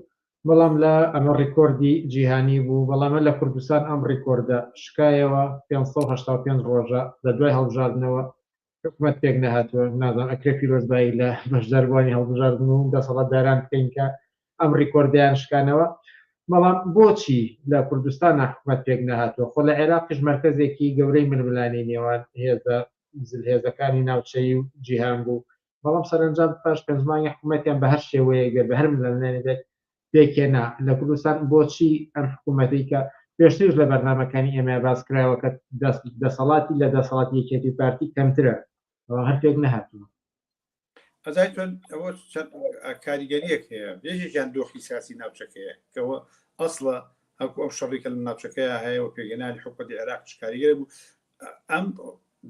بەڵام لە ئەمە ڕیکۆردی جیهانی بوو بەڵامە لە کوردستان ئەم ڕیکۆردە شکایەوە 585 ڕۆژە لە دوای هەڵبژاردنەوە حکومەت پێک نەهاتووە نازان ئەکرێ پیرۆزبایی لە بەشداربووانی هەڵبژاردن و دەسەڵاتداران بکەین کە ئەم ڕیکۆردەیان شکانەوە بەڵام بۆچی لە کوردستان حکومەت پێک نەهاتووە خۆ لە عێراقیش مەرکەزێکی گەورەی ململانی نێوان هێزە زلهێزەکانی ناوچەیی و جیهان بوو بەڵام سەرەنجام پاش پێنج مانگی حکومەتیان بە هەر شێوەیەک بێت بە هەر ململانێک بێت پێکهێنا لە کوردستان بۆچی ئەم حکوومەتەی کە پێشتریش لە بەرنامەکانی ئێمەیە باس کراوە کە دەسەڵاتی لە دەسەڵاتی یەکێتی پارتی کەمترە ئەوە هەر پێک نەهاتووە ئەزای تۆن ئەوە چەند کاریگەریەک هەیە بێژێکیان دۆخی سیاسی ناوچەکەیە کەەوە ئەسڵە هەکو ئەو شەڕێکە لە ناوچەکەی هەیە و پێگەنانی حکوەتی عێراق شکاریگەر بوو ئەم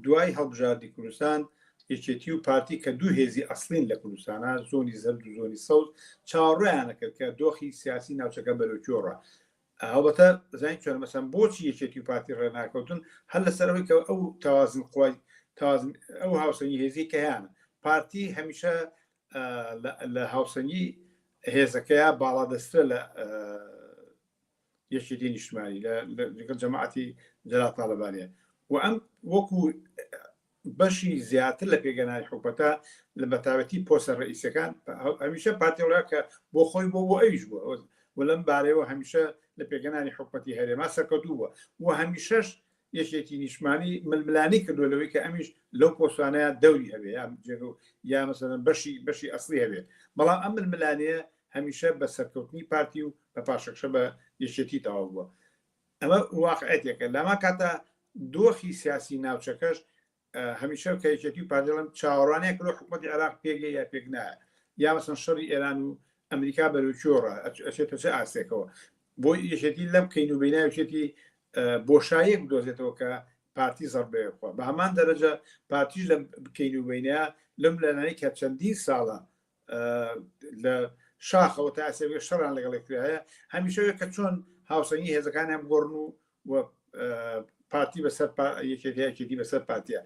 دوای هەڵبژاردی کوردستان، یەکێتی و پارتی کە دوو هێزی ئەسڵین لە کوردستانا، زۆنی زەرد و زۆنی سەوز، چاوەڕێیان ئەکرد کە دۆخی سیاسی ناوچەکە بەرەو کوێ ڕوا. هەڵبەتە زانین چۆنە، مەسەن بۆچی یەکێتی و پارتی ڕێناکەوتن، هەر لەسەر ئەوەی کە ئەو تەوازن قوای، تەوازن، ئەو هاوسەنگی هێزیەی کە هەیانە. پارتی هەمیشە لە هاوسەنگی هێزەکەیا باڵادەستترە لە. یەکێتی نیشتمانی لەگەڵ جەماعەتی جەلال تاڵەبانیە و ئەم وەکو بەشی زیاتر لە پێگەنانی حکوپەتە لە بەتاوەتی پۆسە ڕئیسەکان هەمیشە پارتیڵە کە بۆ خۆی بۆ بۆ ئەویش بووە و لەم بارەوە هەمیشە لە پێگەنانی حکوپەتی هەرێما سەرکەوتوو بووە و هەمیشەش یەکێتی نیشمانی ململانی کردو لەوەی کە ئەمیش لەو پۆسانەیە دەوری هەبێ یا بجێگە و یا مەسەن بەشی بەشی ئەسلی هەبێت بەڵام ئەم ململانەیە هەمیشە بە سەرکەوتنی پارتی و بە پاشەکشە بە یەکێتی تەواو بووە ئەمە واقعەتێکە لەما کاتە دۆخی سیاسی ناوچەکەش هەمیشە کە یەکێتی و پارتی دەڵێم چاوەڕوانیان کردوە حکومەتی عێراق پێکێ یا پێک نایە یا مەسەن شەڕی ئێران و ئەمریکا بەرەو چۆڕە ئەچێتە چ ئاستێکەوە بۆ یەکێتی لەم کەین و بیناوچێتی بۆشایەک بدۆزێتەوە کە پارتی زەربەیە بخوا بە هەمان دەرەجە پارتیش لە بکەین و بینە لەم لەلانی کە چەندین ساڵە لە شاخەوە تا ئەسەوێ شەڕان لەگەڵێکرایە هەمیشەوێ کە چۆن هاوسەنگی هێزەکانیان بگۆڕن و و پارتی بەسەر یەکێکیەکێتی بەسەر پارتە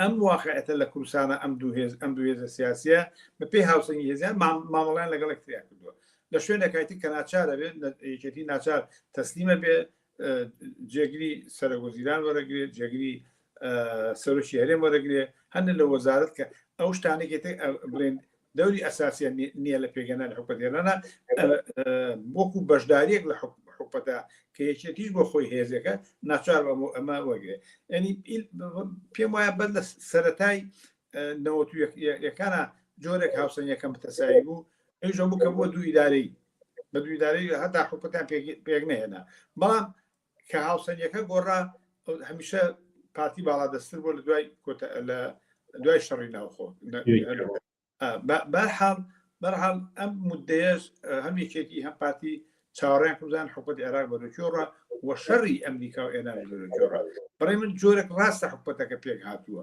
ئەم واقعەتە لە کوردستانە ئەم دوو هێز ئەم دوو هێزە سیاسە بەپی هاوسەنگی هێزیان مامەڵیان لەگەڵ کتریا کردووە لە شوێنەکایتی کە ناچارە بێت یەکێتی ناچار تەسلیمە بێ جێگری سەرگۆزیران وەرەگرێت جێگری سەرۆکی هەرێم وەرەگرێ هەندێک لە وەزارت کە ئەو شتانێکی بڵێن دەوری ئەساسیان نییە لە پێگەنا لە حکومەت هێنانا وەکو بەشداریەک لە حکومەتە کە یەکێتیش بۆ خۆی هێزەکە ناچار ئەمە وەگرێ ئەنی پێم وایە بەر لە سەتای نەوەکانە جۆرێک هاوسەنگەکەم بتەسایی بوو ئەوژە بوو کە بۆ دوو ئیدارەی بە دوو ئیدارەی هەتا حکوتان پێک نهێنا بەڵام کە هاوسەنگەکە گۆڕا هەمیشە پارتی باڵا دەستتر بۆ لە دوای لە دوای شەڕی ناوخۆ بەرحاڵ بەرحاڵ ئەم مدەیەش هەم یەکێتی هەم پارتی چاوەڕیان کوزان حکوت عێراق بەرەکیۆڕە و شەڕی ئەمریکا و ئێرانی بەرەکیۆڕە بڕێ من جۆرەك ڕاستە حکوەتەکە پێک هاتووە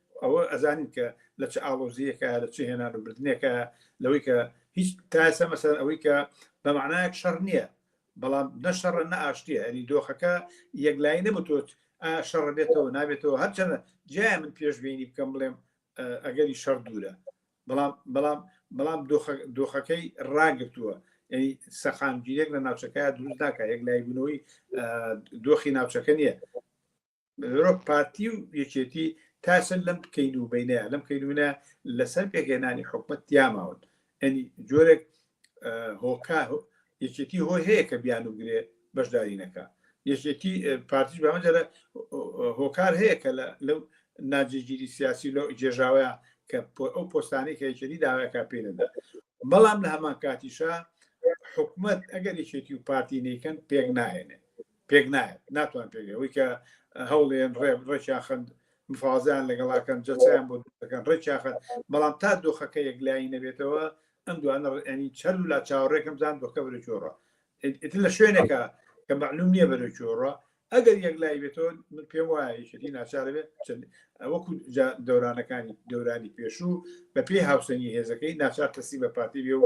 ئەوە ئەزانین کە لە چ ئاڵۆزیەکە لە چ هێنان و بردنێکە لەوەی کە هیچ تاسە مەسەر ئەوەی کە بەمانایەک شەڕ نییە بەڵام نە شەڕە نە ئاشتیە ئەری دۆخەکە یەکلایی نەبتوت شەڕ بێتەوە نابێتەوە هەرچەنە جای من پێشببینی بکەم بڵێم ئەگەری شەڕ دوورە بەڵام بەڵام بەڵام دۆخەکەی ڕاگرتووە سەقامگیرێک لە ناوچەکە دروست ناکە یەک لایبوونەوەی دۆخی ناوچەکە نییە بەرۆک پارتی و یەکێتی تاسن لەم کەین و بینەیە لەم کەینونە لەسەر پێکهێنانی حکومت تیاماون ئەنی جۆرێک هۆکا یەکێتی هۆی هەیە کە بیان و گرێ بەشداری نەکە یەکێتی پارتیش بەمەجرە هۆکار هەیە کە لەو ناجێگیری سیاسی لەو جێژاوەیە کە ئەو پۆستانی کە یەکێتی داواکە پێ نەدا بەڵام لە هەمان کاتیشە حکومت ئەگەر یەکێتی و پارتی نیکەن پێک ناهێنێ پێک نایەت ناتوان پێک ئەوەی کە هەوڵێن ڕێ ڕێکیان خند مفازیان لەگەڵاکەن جەسەیان بۆ دەکەن ڕێکیان خند بەڵام تا دۆخەکە یەکلایی نەبێتەوە ئەم دوانە ڕێنی چەر و لا چاوەڕێکم زان دۆکە بەرە چۆڕە ئیتر لە شوێنێکە کە معلوم نییە بەرە چۆڕە ئەگەر یەکلای بێتەوە من پێم وایە یەکێتی ناچارە بێت چەند وەکو جا دەورانەکانی دەورانی پێشوو بە پێی هاوسەنگی هێزەکەی ناچار تەسی بە پارتی بێ و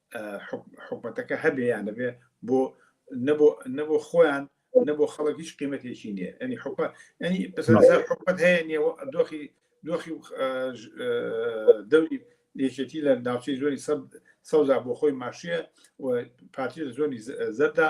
حکومەتەکە هەبێ یان نەبێ بۆ نەبۆ خۆیان نەبۆ خەڵک هیچ قیمەتێکی نیە ئەنی حکومە ئەنی حکومەت هەیە نیە دۆخی دۆخی دەوری یەکێتی لە ناوچەی زۆری سەوزا بۆ خۆی ماشیە و پارتی لە زۆری زەردا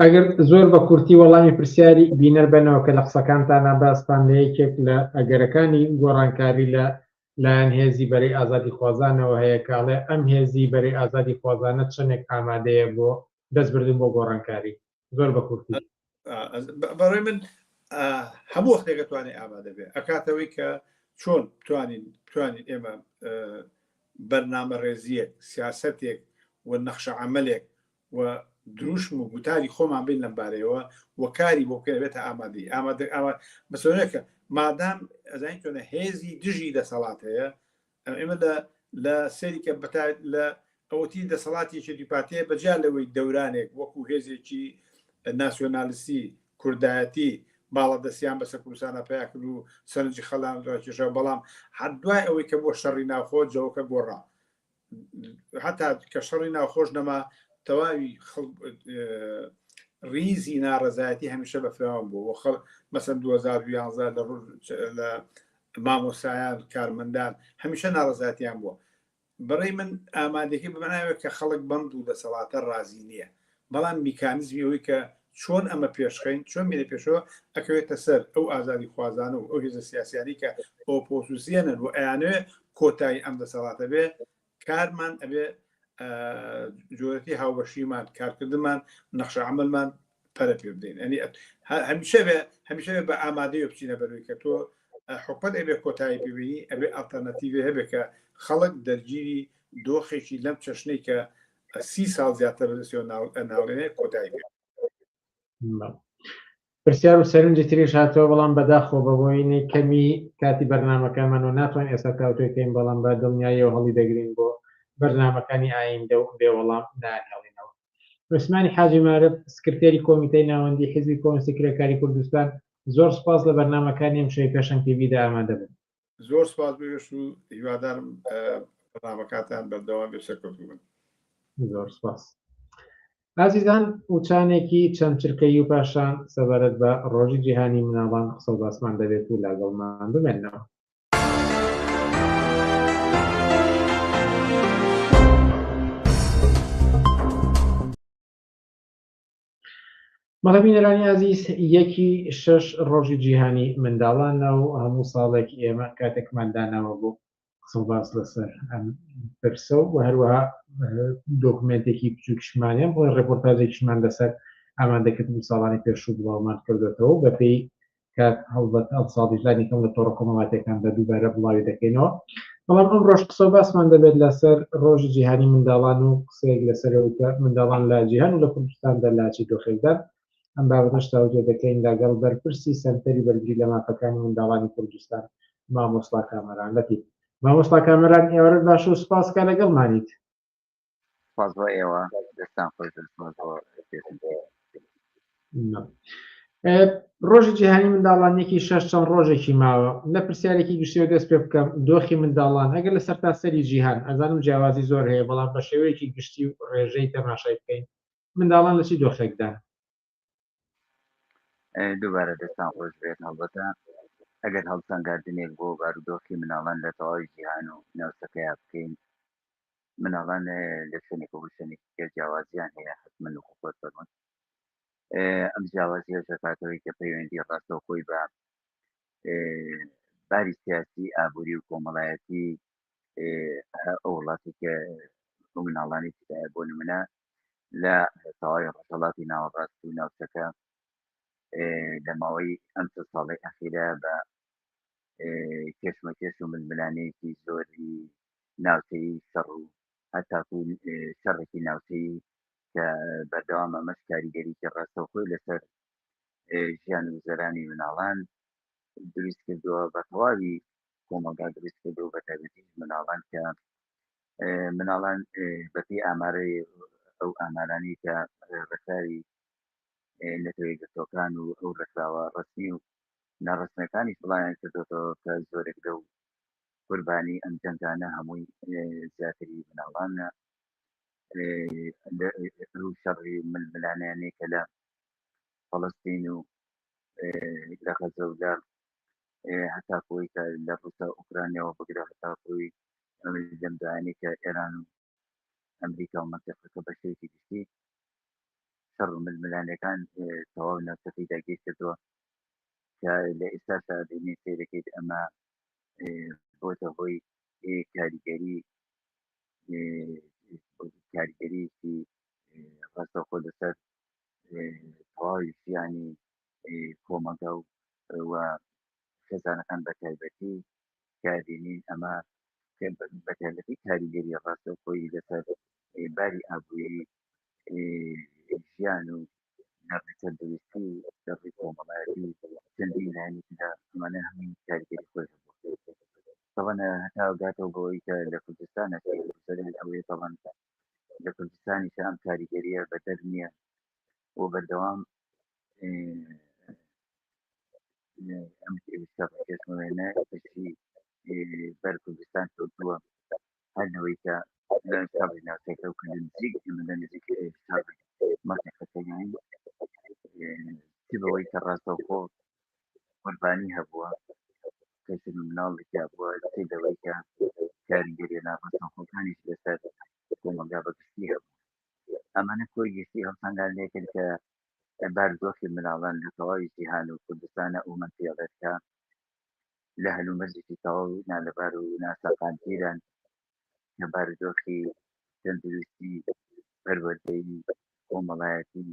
ئەگەر زۆر بە کورتی وەڵامی پرسیاری بینەر بەنەوە کە لە قسەکانتانا باستان لە یەکێک لە ئەگەرەکانی گۆڕانکاری لە لایەن هێزی بەرەی ئازادیخوازانەوە هەیە کە ئەڵێ ئەم هێزی بەرەی ئازادیخوازانە چەندێک ئامادەیە بۆ دەست بردن بۆ گۆڕانکاری زۆر بە کورتی بەڕێ من هەموو وەختێک دەتوانێت ئامادە بێ ئەکاتەوەی کە چۆن توانین توانین ئێمە بەرنامە ڕێزیەک سیاستێک و نەخشە عملێک و دروشم و گوتاری خۆمان بین لەم بارەیەوە و کاری بۆ بکەین ئەبێتە ئامادەیی. ئامادە، ئاوا مەسەلەیە کە مادام ئەزانین چۆنە هێزی دژی دەسەڵات هەیە، ئێمە لە لە سەیری کە بە تا لە ئەوەتی دەسەڵاتی یەکێتی پارتی هەیە بە جیا لەوەی دەورانێک وەکوو هێزێکی ناسیۆنالیستی، کوردایەتی باڵادەستیان بەسەر کوردستانا پەیا کرد و سەرنجی خەڵکیان ڕاکێشا، بەڵام حەد دوای ئەوەی کە بووە شەڕی ناوخۆ جەوەکە گۆڕا. هەتا کە شەڕی ناوخۆش نەما تەواوی ریزی ناڕزایەتی هەمیشە بە فراوان بوو بۆ خەڵ مەسن 2011 لە ڕۆژ لە مامۆسایان کارمەندان هەمیشە ناڕزاتیان بووە بەڕێ من ئامادەکی بماناوێت کە خەڵک بەم دوو دەسەڵاتە ڕازی نییە بەڵام میکانیزمی ئەوەی کە چۆن ئەمە پێشخەین چۆن بێنە پێشەوە ئەکەوێتە سەر ئەو ئازادی خوازانە و ئەو هێزە سیاسیانی کە ئۆپۆسیسیەنن و ئەیانوێ کۆتایی ئەم دەسەڵاتە بێ کارمان ئەبێ جۆرەتی هاوبەشیمان کارکردمان نەخشە عملمان پەرە پێ بدەین ئەنی هەمیشە بێ هەمیشە بە ئامادەی بچینە بەروی کە تۆ حکومت ئەبێ کۆتایی پێبینی ئەبێ ئەلتەرناتیڤێ هەبێ کە خەڵک دەرگیری دۆخێکی لەم چەشنەی کە سی ساڵ زیاتر ناڵێنێ کۆتایی پێ پرسیار و سەرنجی تریش هاتەوە بەڵام بەداخەوە بەهۆینی کەمی کاتی بەرنامەکەمان و ناتوان ئێستا تاوتوێ کەین بەڵام بە دڵنیاییەوە هەڵی دەگرین بۆ بەرنامەکانی ئایندە و بێ وەڵام ناهێڵینەوە عوسمانی حاجی مارف سکرتێری کۆمیتەی ناوەندی حزبی کۆنسی کرێکاری کوردستان زۆر سپاس لە بەرنامەکانی ئەم شەی پێشەنگ تیڤیدا ئامادە بن زۆر سپاس بێش و هیوادارم بەنامەکاتان بەردەوام بێ سەرکەوتوبن زۆر سپاس ئازیزان وچانێکی چەند چرکەی و پاشان سەبارەت بە ڕۆژی جیهانی مناڵان قسە و باسمان دەبێت و لاگەڵمان بمێنەوە بەڵێ بینەرانی ئازیز یەکی شەش ڕۆژی جیهانی منداڵانە و هەموو ساڵێک ئێمە کاتێکمان داناوە بۆ قسە و باس لەسەر ئەم پرسە و هەروەها دۆکمنتێکی بچووکشمانیان بۆی ڕێپۆرتاجێکیشمان لەسەر ئامادەکرد و ساڵانی پێشوو بڵاومان کردێتەوە بەپێی کە هەڵبەت ئەم ساڵیش لانی کەم لە تۆڕە کۆمەڵاتیەکاندا دووبارە بڵاوی دەکەینەوە بەڵام ئەم ڕۆژ قسە باسمان دەبێت لەسەر ڕۆژی جیهانی منداڵان و قسەیەک لەسەر وتە منداڵان لە جیهان و لە کوردستاندا لاچی دۆخێکدان ئەم بابەتەش تاوتێ دەکەین لەگەڵ بەرپرسی سەنتەری بەرگری لە مافەکانی منداڵانی کوردستان مامۆستا کامەران لەتی مامۆستا کامەران ئێوارە باش و سپاس کە لەگەڵمانیت سپاس بۆ ئێوە دەستان خۆش سپاس بۆ کێشم ڕۆژی جیهانی منداڵانێکی شەش چەند ڕۆژێکی ماوە لە پرسیارێکی گشتیەوە دەست پێ بکەم دۆخی منداڵان ئەگەر لە سەرتا سەری جیهان ئەزانم جیاوازی زۆر هەیە بەڵام بە شێوەیەکی گشتی و ڕێژەی تەماشای بکەین منداڵان لە چی دۆخێکدا دووبارە دەستان خۆش بێت هەڵبەتە ئەگەر هەڵسەنگاردنێک بۆ بارودۆخی مناڵان لە تەواوی جیهان و ناوچەکەیا بکەین مناڵان لە شوێنێکە بۆ شوێنێکی تر جیاوازیان هەیە حتممن و خۆت فەرمون ئەم جیاوازیە دەکاتەوەی کە پەیوەندی ڕاستەوخۆی بە باری سیاسی ئابووری و کۆمەڵایەتی ئەو وڵاتی کە بۆ مناڵانی بۆ نمونە لە تەواوی ڕۆژهەڵاتی ناوەڕاست و ناوچەکە لە ماوەی ئەم چەند ساڵەی ئەخیرە بە کێشمەکێش و ململانەیەکی زۆری ناوچەی شەڕ و هەتاکو شەڕێکی ناوچەی کە بەردەوام ئەمەش کاریگەریکی ڕاستەوخۆی لەسەر ژیان و زەرانی مناڵان دروست کردووە بە تەواوی کۆمەڵگا دروست کردو بە تایبەتی مناڵان کە مناڵان بەپێی ئامارەی ئەو ئامارانی کە ڕێکخراوی نەتەوە یەکگرتووەکان و ئەو ڕێکخراوە ڕەسمی و ناڕەسمیەکانی سڵایان کردێتەوە کە زۆرێک لەو قوربانی ئەم جەنگانە هەمووی زیاتری مناڵانە شەڕی ململانیانەی کە لە فەڵستین و لە غەزە و لە هەتاکو ئەوەی کە لە ڕووسا و ئۆکرانیاوە بگرە هەتاکو ئەوەی ئەمریکا لەم دایانەی کە ئێران و ئەمریکا و مەنتیقەکە بە شێوەیەکی گشتی شەڕ و ململانێکان تەواو ناوچەکەی داگیر کردووە کە لە ئێستاشدا بینێ سیرەکەیت ئەمە بۆتە هۆی کاریگەری کاریگەریی ڕاستەوخۆ لەسەر تەواوی ژیانی کۆمەڵگا و خێزانەکان بە تایبەتی دابینین ئەمە بە تایبەتی کاریگەری ڕاستەوخۆی لەسەر باری ئابووری ژیان و نەڕی تەندروستی و دەڕی کۆمەڵایەتی چەندین لایەنی تردا ئەمانە هەمووی کاریگەری خۆی طبعا هەتا گاتەوە بەوەی کە لە کوردستان ئەوەیە طبعا لە کوردستانیش ئەم کاریگەریە بەدەر نییە و بەردەوام ئەمێنە کەسی بەر کوردستان کەوتووە هەر لەوەی کە ساڵی ناوچەکە و کردن نزیک مدە نزیک مەقەکەیان بەوەی کە ڕاستەوخۆ قوربانی هەبووە کەسی مناڵ لەکیا بووە تی لەوەی کە کاریگەری ناڕاستەوخۆکانیش لەسەر کۆمەلگا بەگشتی هەبوو ئەمانە کۆی گشتی ئەو سەنگان لێکن کە بارودۆخی مناڵان لە تەواوی جیهان و کوردستانە ئەومان پێڵێت کە لە هەلومەرجێکی تەواو نالەبار و ناسەقامگیران کە بارودۆخی تەندروستی پەروەردەیی کۆمەڵایەتی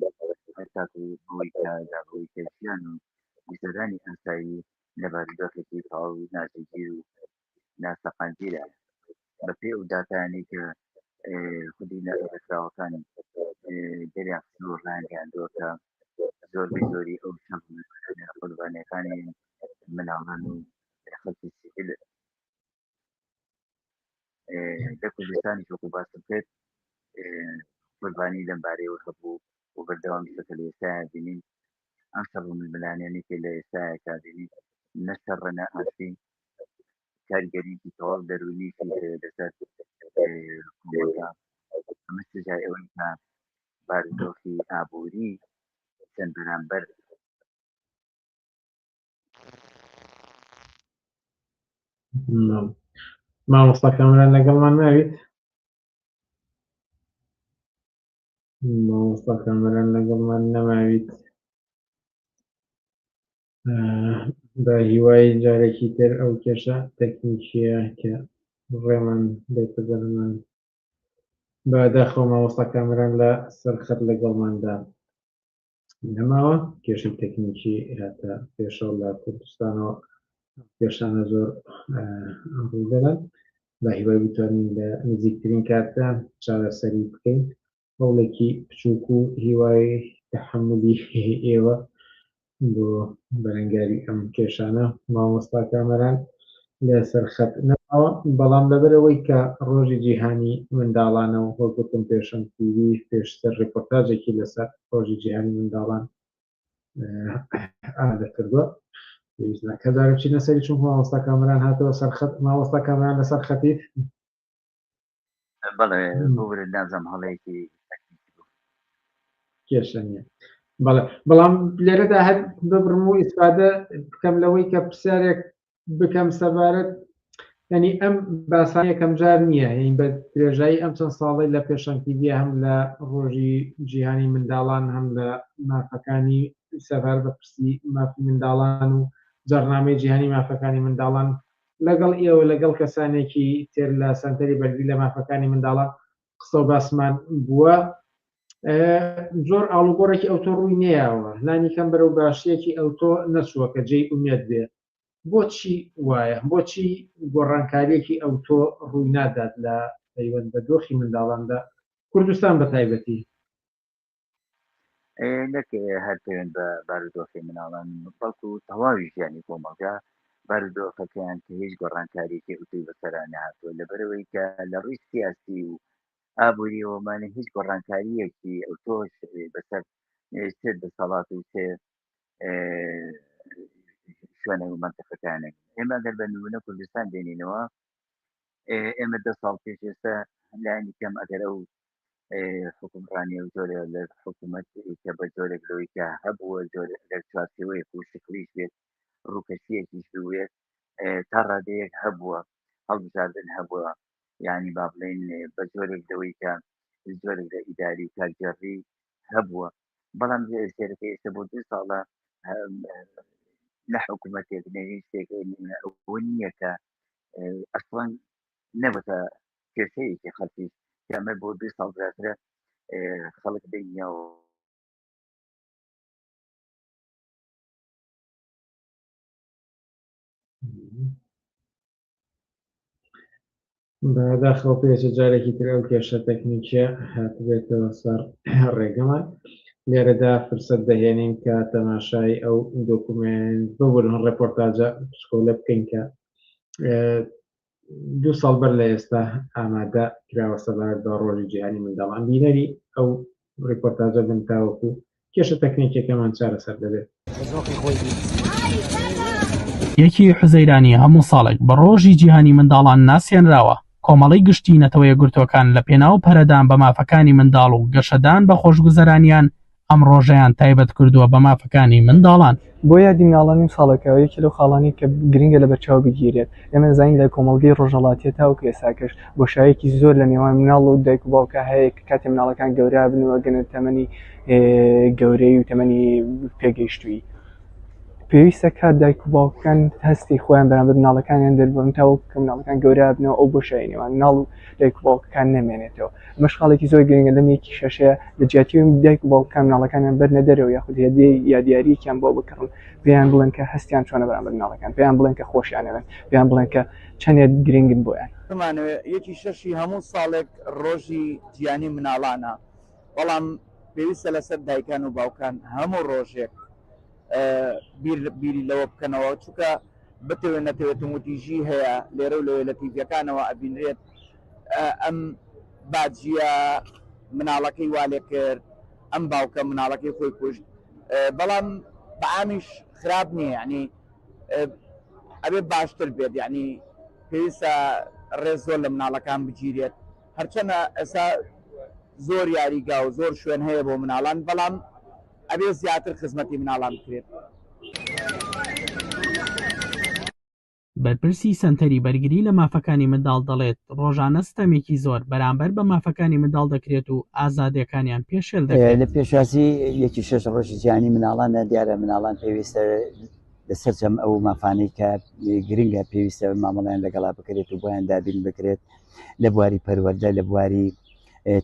هەتاکو بۆی کە لە بۆی کە ژیان و گوزەرانی ئاسایی لە بارودۆخێکی تەواو ناجێگیر و ناسەقامگیرە بەپێ ئەو داتانەی کە خودی نەڕێکخراوەکانی دەریان خستنەوە ڕایانگەیاندووە کە زۆربەی زۆری ئەو قوربانیەکانی مناڵان و خەڵکی سیکل لە کوردستانی شوق و باسم کرد قوربانی لەمبارەیەوە هەبوو و بەردەوامی شەکە لە ئێستا بینین ئەم شەڕ ململانێنێکی لە ئێستا کابینی نەشەڕە نە ئاسی کاریگەریکی تەواو دەرونیشی هەیە لەسەر کۆمەڵگا ئەمە سزای ئەوەی کە بارودۆخی ئابووری چەند بەرامبەر مامۆستا کامران لەگەڵمان ناویت مامۆستا کامران لەگەڵمان نەماویت بە هیوای جارێکی تر ئەو کێشە تەکنیکیە کە ڕێمان بێتە دەرمان بە داخەوە مامۆستا کامران لە سەرخەت لەگەڵماندا نەماوە کێشی تەکنیکی هاتە پێشەوە لە کوردستانەوە کێشانە زۆر ڕوودەدات بە هیوای بتوانین لە نزیکترین کاتدا چارەسەری بکەین هەوڵێکی بچووک و هیوای تەحەمولی ئێوە بۆ بەرەنگاری ئەم کێشانە مامۆستا کامەران لەسەر خەت نەماوە بەڵام لەبەر ئەوەی کە ڕۆژی جیهانی منداڵانە و وەک وتم پێشم تیوی پێشتر ڕێپۆرتاجێکی لەسەر ڕۆژی جیهانی منداڵان ئامادە کردووە پێویست ناکات جارێ بچینە سەری چونکە مامۆستا کامەران هاتەوە سەر خەت مامۆستا کامەران لەسەر خەتیت بەڵێ بورێت نازم هەڵەیەکی کێشە نیە بەڵێ بەڵام لێرەدا هەر ببڕم و ئیسفادە بکەم لەوەی کە پرسیارێک بکەم سەبارەت ینی ئەم باسان یەکەم جار نییە هین بە درێژایی ئەم چەند ساڵی لە پێشەنگیدیە هەم لە ڕۆژی جیهانی منداڵان هەم لە مافەکانی سەبار بە پرسی مافی منداڵان و جەرنامەی جیهانی مافەکانی منداڵان لەگەڵ ئێوە لەگەڵ کەسانێکی تر لە سەنتەری بەرگری لە مافەکانی منداڵان قسە و باسمان بووە زۆر ئاڵوگۆڕێکی ئەوتۆ ڕووی نەیەوە لانی کەم بەرەو باشیەکی ئەوتۆ نەچووە کە جێی ئومێد بێ بۆچی وایە بۆچی گۆڕانکاریەکی ئەوتۆ ڕووی نادات لە پەیوەند بە دۆخی منداڵاندا کوردستان بە تایبەتی نەک هەر پەیوەند بە بارودۆخی مناڵان بەڵکو تەواوی ژیانی کۆمەڵگا بارودۆخەکەیان کە هیچ گۆڕانکاریەکی ئوتوی بەسەرانە هاتووە لەبەرەوەی کە لە ڕووی سیاسی و ئابووریەوەمانە هیچ گۆڕانکاریەکی ئەو تۆش بەسەر سێ دەسەڵات و سێ شوێنە و منتەقەکانێک ئێمە گەر بە نمونە کوردستان دێنینەوە ئێمە دە ساڵ پێش ئێستا لانی کەم ئەگەر ئەو حکومڕانی و جۆرە لە حکوومەت کە بە جۆرێک لەوەی کە هەبووە جۆرە لە چوارچەوەیەک و شکلیش بێت ڕووکەشیەکیش بوێت تا ڕادەیەک هەبووە هەڵبژاردن هەبووە یعنی با بڵێن بە جۆرێک لەوەی کە جۆرێک لە ئیداری و کارگەڕی هەبووە بەڵام سێرەکە ئێستا بۆ دو ساڵە نە حکوومەتێک نەویستێک نییە کە ئەسڵەن نەبتە کێشەیەکی خەڵکی کەمە بۆ دوێ ساڵ زیاترە خەڵک بینیەوە بەداخەوە پێچە جارێکی تر ئەو کێشە تەکنیکە هاتبێتەوە سەر ڕێگەمان لێرەدا فرسەت دەهێنین کە تەماشای ئەو دۆکومنت ببوون ڕێپۆرتاجە پسکۆلە بکەین کە دوو ساڵ بەر لە ئێستا ئامادە کراوە سەبارەت بە ڕۆژی جیهانی منداڵان بینەری ئەو ڕیپۆرتاجە بن تاوەکو کێشە تەکنیکەکەمان چارەسەر دەبێت. یەکی حوزەیرانی هەموو ساڵێک بە ڕۆژی جیهانی منداڵان ناسیێنراوە کۆمەڵی گشتی نەتەوەیە گرتوەکان لە پێناو پەرەدان بە مافەکانی منداڵ و گەشەدان بە خۆشگوزەرانیان ئەم ڕۆژەیان تایبەت کردووە بە مافەکانی منداڵان. بۆ یادی مناڵانی ئەم ساڵەکەوە یەکێ لەو خاڵانەی کە گرنگە لە بەرچاو بگیرێت ئێمە دەزانین لە کۆمەڵگەی ڕۆژهەڵاتیە تاوەکو ئێساکەش بۆشایەکی زۆر لە نێوان مناڵ و دایک و باوکە هەیە کە کاتێ مناڵەکان گەورابن و ئەگەنە تەمەنی گەورەی و تەمەنی پێگەیشتووی پێویستە کات دایک و باوکەکان هەستی خۆیان بەرامبەر مناڵەکانیان دەربن تاوەکو کە مناڵەکان گەورابنەوە ئەو بۆشای نێوان ناڵ و دایک و باوکەکان نەمێنێتەوە ئەمە شکاڵێکی زۆر گرنگە لەم یەکی شەشەیە لە جیاتی ئەوەی دایک و باوکەکان مناڵەکانیان بەرنە دەرەوە یاخود هێدێ یا دیارییەکیان بۆ بکڕن پێیان بڵێن کە هەستیان چۆنە بەرامبەر مناڵەکان پێیان بڵێن کە خۆشیانەوێن پێیان بڵێن کە چەندێک گرنگن بۆیان. بمانەوێت یەکی شەشی هەموو ساڵێک ڕۆژی جیهانی مناڵانە بەڵام پێویستە لەسەر دایکان و باوکان هەموو ڕۆژێک بیری لەوە بکەنەوە چونکە بتەوێت نەتەوێت توندوتیژی هەیە لێرە و لەوێ لە تیڤیەکانەوە ئەبینرێت ئەم باجیە مناڵەکەی والێکرد ئەم باوکە مناڵەکەی خۆی کوشت بەڵام بەامیش خراپ نییە یعنی ئەبێ باشتر بێت یعنی پێویستە ڕێز زۆر لە مناڵەکان بگیرێت هەرچەنە ئێسا زۆر یاریگا و زۆر شوێن هەیە بۆ مناڵان بەڵام ئەبێ زیاتر خزمەتی مناڵان بکرێت. بەرپرسی سەنتەری بەرگری لە مافەکانی منداڵ دەڵێت، ڕۆژانە ستەمێکی زۆر بەرامبەر بە مافەکانی منداڵ دەکرێت و ئازادییەکانیان پێشێل دەکرێت. لە پێشوازی یەکی شەش ڕۆژی جیهانی منداڵاندا دیارە منداڵان پێویستە لە سەرجەم ئەو مافانەی کە گرنگە پێویستە مامەڵیان لەگەڵا بکرێت و بۆیان دابین بکرێت لە بواری پەروەەردە لە بواری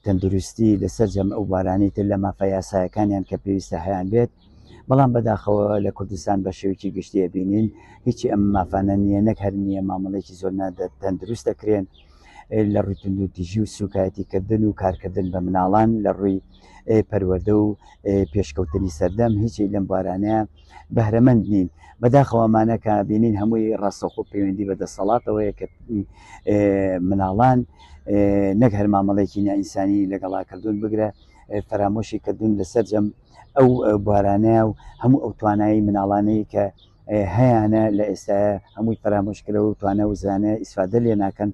تەندروستی لە سەرجەم ئەو بارانی تر لە مافە یاسایەکانیان کە پێویستە هەیان بێت بەڵام بەداخەوە لە کوردستان بە شێوکی گشتیە بینین هیچی ئەم مافانە نییە نەک هەر نییە مامەڵێکی زۆر نادە تەندروست دەکرێن لە ڕووی تونوتیژی و سوکایەتیکردن و کارکردن بە مناڵان لە ڕووی پەروەدە و پێشکەوتنی سەردەم هیچی لەم بارانەیە بەهرەمەند نین بەداخەوەمانە کە بینین هەمووی ڕاستەخۆ پەیوەندی بە دەسەڵاتەوەیە کە مناڵان نەک هەر مامەڵێکی نائینسانی لەگەڵا کردوون بگرە فەرامۆشی کردوون لە سەررجەم ئەو بارانەیە و هەموو ئەو توانایی مناڵانەی کە هەیەە لە ئێستا هەمووی فەرامۆشکرەوە و توانە وزانە ئیسفادە لێ ناکەن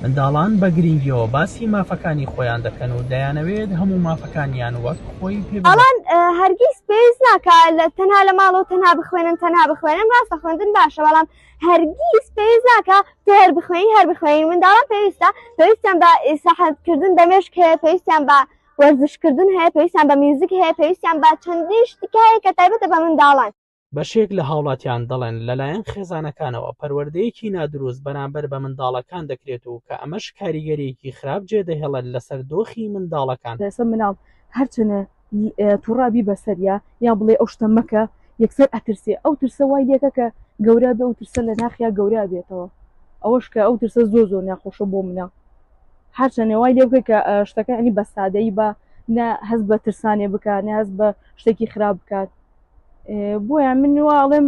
منداڵان بە گرینگیەوە باسی مافەکانی خۆیان دەکەن و دەیانەوێت هەموو مافەکانیان وەک خۆی پێ ئەڵان هەرگیز پێز ناکە لە تەنها لە ماڵەوە تەنها بخوێنن تەنها بخوێنن ڕاستە خوێندن باشە بەڵام هەرگیز پێز ناکە تێر بخوێنی هەر بخوێنی منداڵان پێویستە پێویستیان بە سەحەتکردن دەمێشک هەیە پێویستیان بە وەرزشکردن هەیە پێویستیان بە میوزیک هەیە پێویستیان بە چەندین شتکایە کە تایبەتە بە منداڵان بەشێک لە هاوڵاتیان دەڵێن لەلایەن خێزانەکانەوە پەروەردەیەکی نادروست بەرامبەر بە منداڵەکان دەکرێت و کە ئەمەش کاریگەریەکی خراپ جێ دەهێڵێت لەسەر دۆخی منداڵەکان. لەسە مناڵ هەرچەنە توڕا بی بەسەریا یا بڵێ ئەو شتە مەکە یەکسەر ئەترسێ ئەو ترسە وای لەکە کە گەورە بێ و ترسە لە ناخیا گەورە بێتەوە ئەوەش کە ئەو ترسە زۆ زۆ ناخۆشە بۆ منە هەرچەنە وای لێ بکە کە شتەکە ئەنی بە سادەی بە نە هەز بە ترسانێ بکە نە هەز بە شتێکی خراپ بکات بۆیە من وا ئەڵێم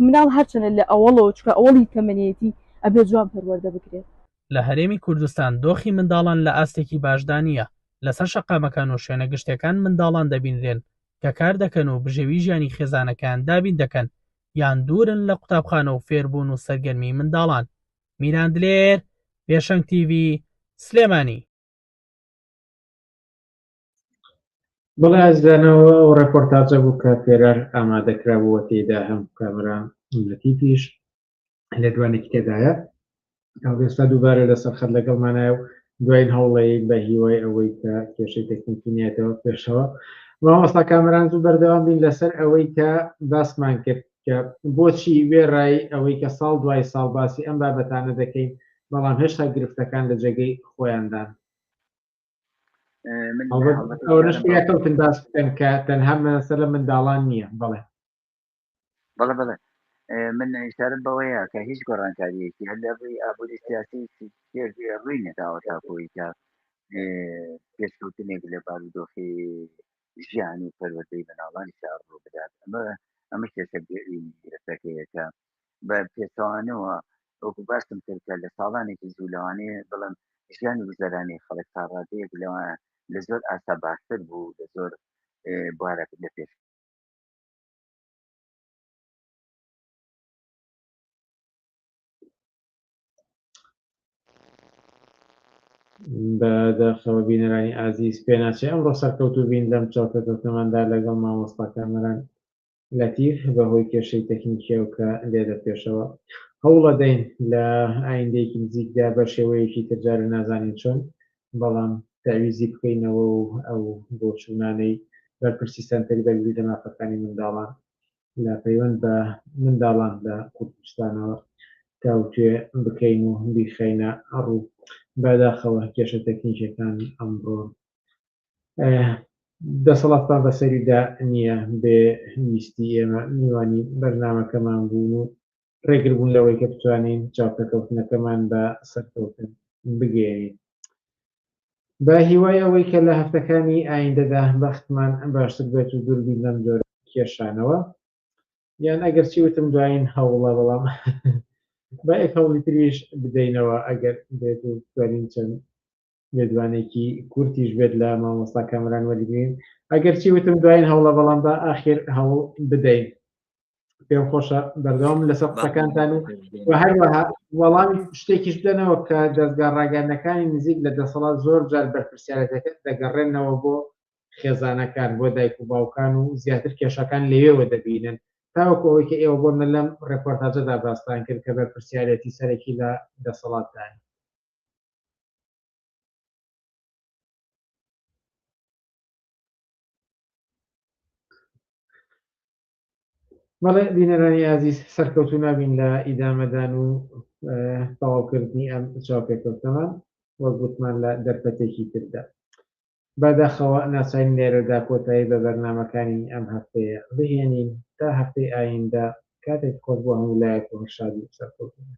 مناڵ هەرچەنە لە ئەوەڵەوە چکە ئەوەڵی تەمەنێتی ئەبێ جوان پەروەردە بکرێت. لە هەرێمی کوردستان دۆخی منداڵان لە ئاستێکی باشدا نییە، لەسەر شەقامەکان و شوێنە گشتیەکان منداڵان دەبینرێن کە کار دەکەن و بژێوی ژیانی خێزانەکەیان دابین دەکەن یان دوورن لە قوتابخانە و فێربوون و سەرگەرمی منداڵان. میران دلێر، پێشەنگ تیڤی، سلێمانی. بەڵێ ئازدانەوە ئەو ڕێپۆرتاجە بوو کە پێرار ئامادەکرا بووە تێدا هەم کامرا لەتیفیش لێدوانێکی تێدایە ئەوێستا دووبارە لەسەر خەت لەگەڵمانایە و دوایین هەوڵەیە بە هیوای ئەوەی کە کێشەی تەکنیکینیەتەوە پێشەوە مامۆستا کامران زوو بەردەوام بین لەسەر ئەوەی کە باسمان کرد کە بۆچی وێڕای ئەوەی کە ساڵ دوای ساڵ باسی ئەم بابەتانە دەکەین بەڵام هێشتا گرفتەکان لە جێگەی خۆیاندان ئەوەشتەوتن باس بکەن کە تەنها مەسە لە منداڵان نییە بڵێ بەڵە بڵێ من ئیشارم بەوەیە کە هیچ گۆڕانکاریەکی هەر لە ڕووی ئابووری سیاسی ڕووی نەداوە تاکۆی کە پێشکەوتنێک لە بارودۆخی ژیانی پەروەدەی مناڵانی شار ڕوو بدات ئەمە ئەمە کێشەگەری دەستەکەیەکە بە پێچەوانەوە وەکو باسم کرد کە لە ساڵانێکی زوو لەوانەیە بڵم ژیان و گوزەرانی خەڵک تا ڕادەیەک لەوە لە زۆر ئاسا باشتر بوو لە زۆر بوارە لە پێش بە داخەوە بینەرانی ئازیز پێناچێ ئەمڕۆ سەرکەوتوو بین لەم چاوپێکەوتنەماندا لەگەڵ مامۆستا کامەران لەتیف، بەهۆی کێشەی تەکنیکیەوە کە لێدەپێشەوە. هەوڵەدەین لە ئایندەیەکی نزیکدا بەشێوەیەکی تر جارێ نازانین چۆن، بەڵام تەعویزی بکەینەوە و ئەو بۆچوونانەی بەرپرسی سەنتەری بەرگری لە مافەکانی منداڵان لە پەیوەند بە منداڵان لە کوردستانەوە تاوتوێ بکەین و بیخەینە ڕوو. بەداخەوە کێشە تەکنیکیەکان ئەمڕۆ دەسەڵاتمان بەسەریدا نییە بێ ویستی ئێمە میوانی بەرنامەکەمان بوون و ڕێگربوون لەوەی کە بتوانین چاوپێکەوتنەکەمان بە سەرکەوتن بگەێنین بە هیوای ئەوەی کە لە هەفتەکانی ئایندەدا بەختمان باشتر بێت و دووربی لەم جۆر کێشانەوە یان ئەگەر چی وتم دوایین هەوڵە بەڵام بە ئێک هەوڵی تریش بدەینەوە ئەگەر بێت و توانین چەند لێدوانێکی کورتیش بێت لە مامۆستا کامران وەرگین ئەگەرچی وتم دوایین هەوڵە بەڵام بە ئاخر هەوڵ بدەین پێم خۆشە بەردەوام لەسەر قسەکانتان و و هەروەها وەڵامی شتێکیش بدەنەوە کە دەستگا ڕاگەندەکانی نزیک لە دەسەڵات زۆر جار بەرپرسیارەتەکە دەگەڕێنەوە بۆ خێزانەکان بۆ دایک و باوکان و زیاتر کێشەکان لەوێوە دەبینن تاوەکو ئەوەی کە ئێوە بۆن من لەم ڕێپۆرتاجەدا باستان کرد کە بەرپرسیارەتی سەرەکی لە دەسەڵاتدان بەڵێ بینەرانی ئازیز سەرکەوتو نابین لە ئیدامەدان و تەواوکردنی ئەم چاوپێکەوتەمان وەک گوتمان لە دەرفەتێکی تردا بەداخەوە ناچارین لێرەدا کۆتایی بە بەرنامەکانی ئەم هەفتەیە بهێنین، تا هەفتەی ئایندە، کاتێکی خۆش بۆ هەموو لایەک و هەر شادی و سەرکەوتوو بن.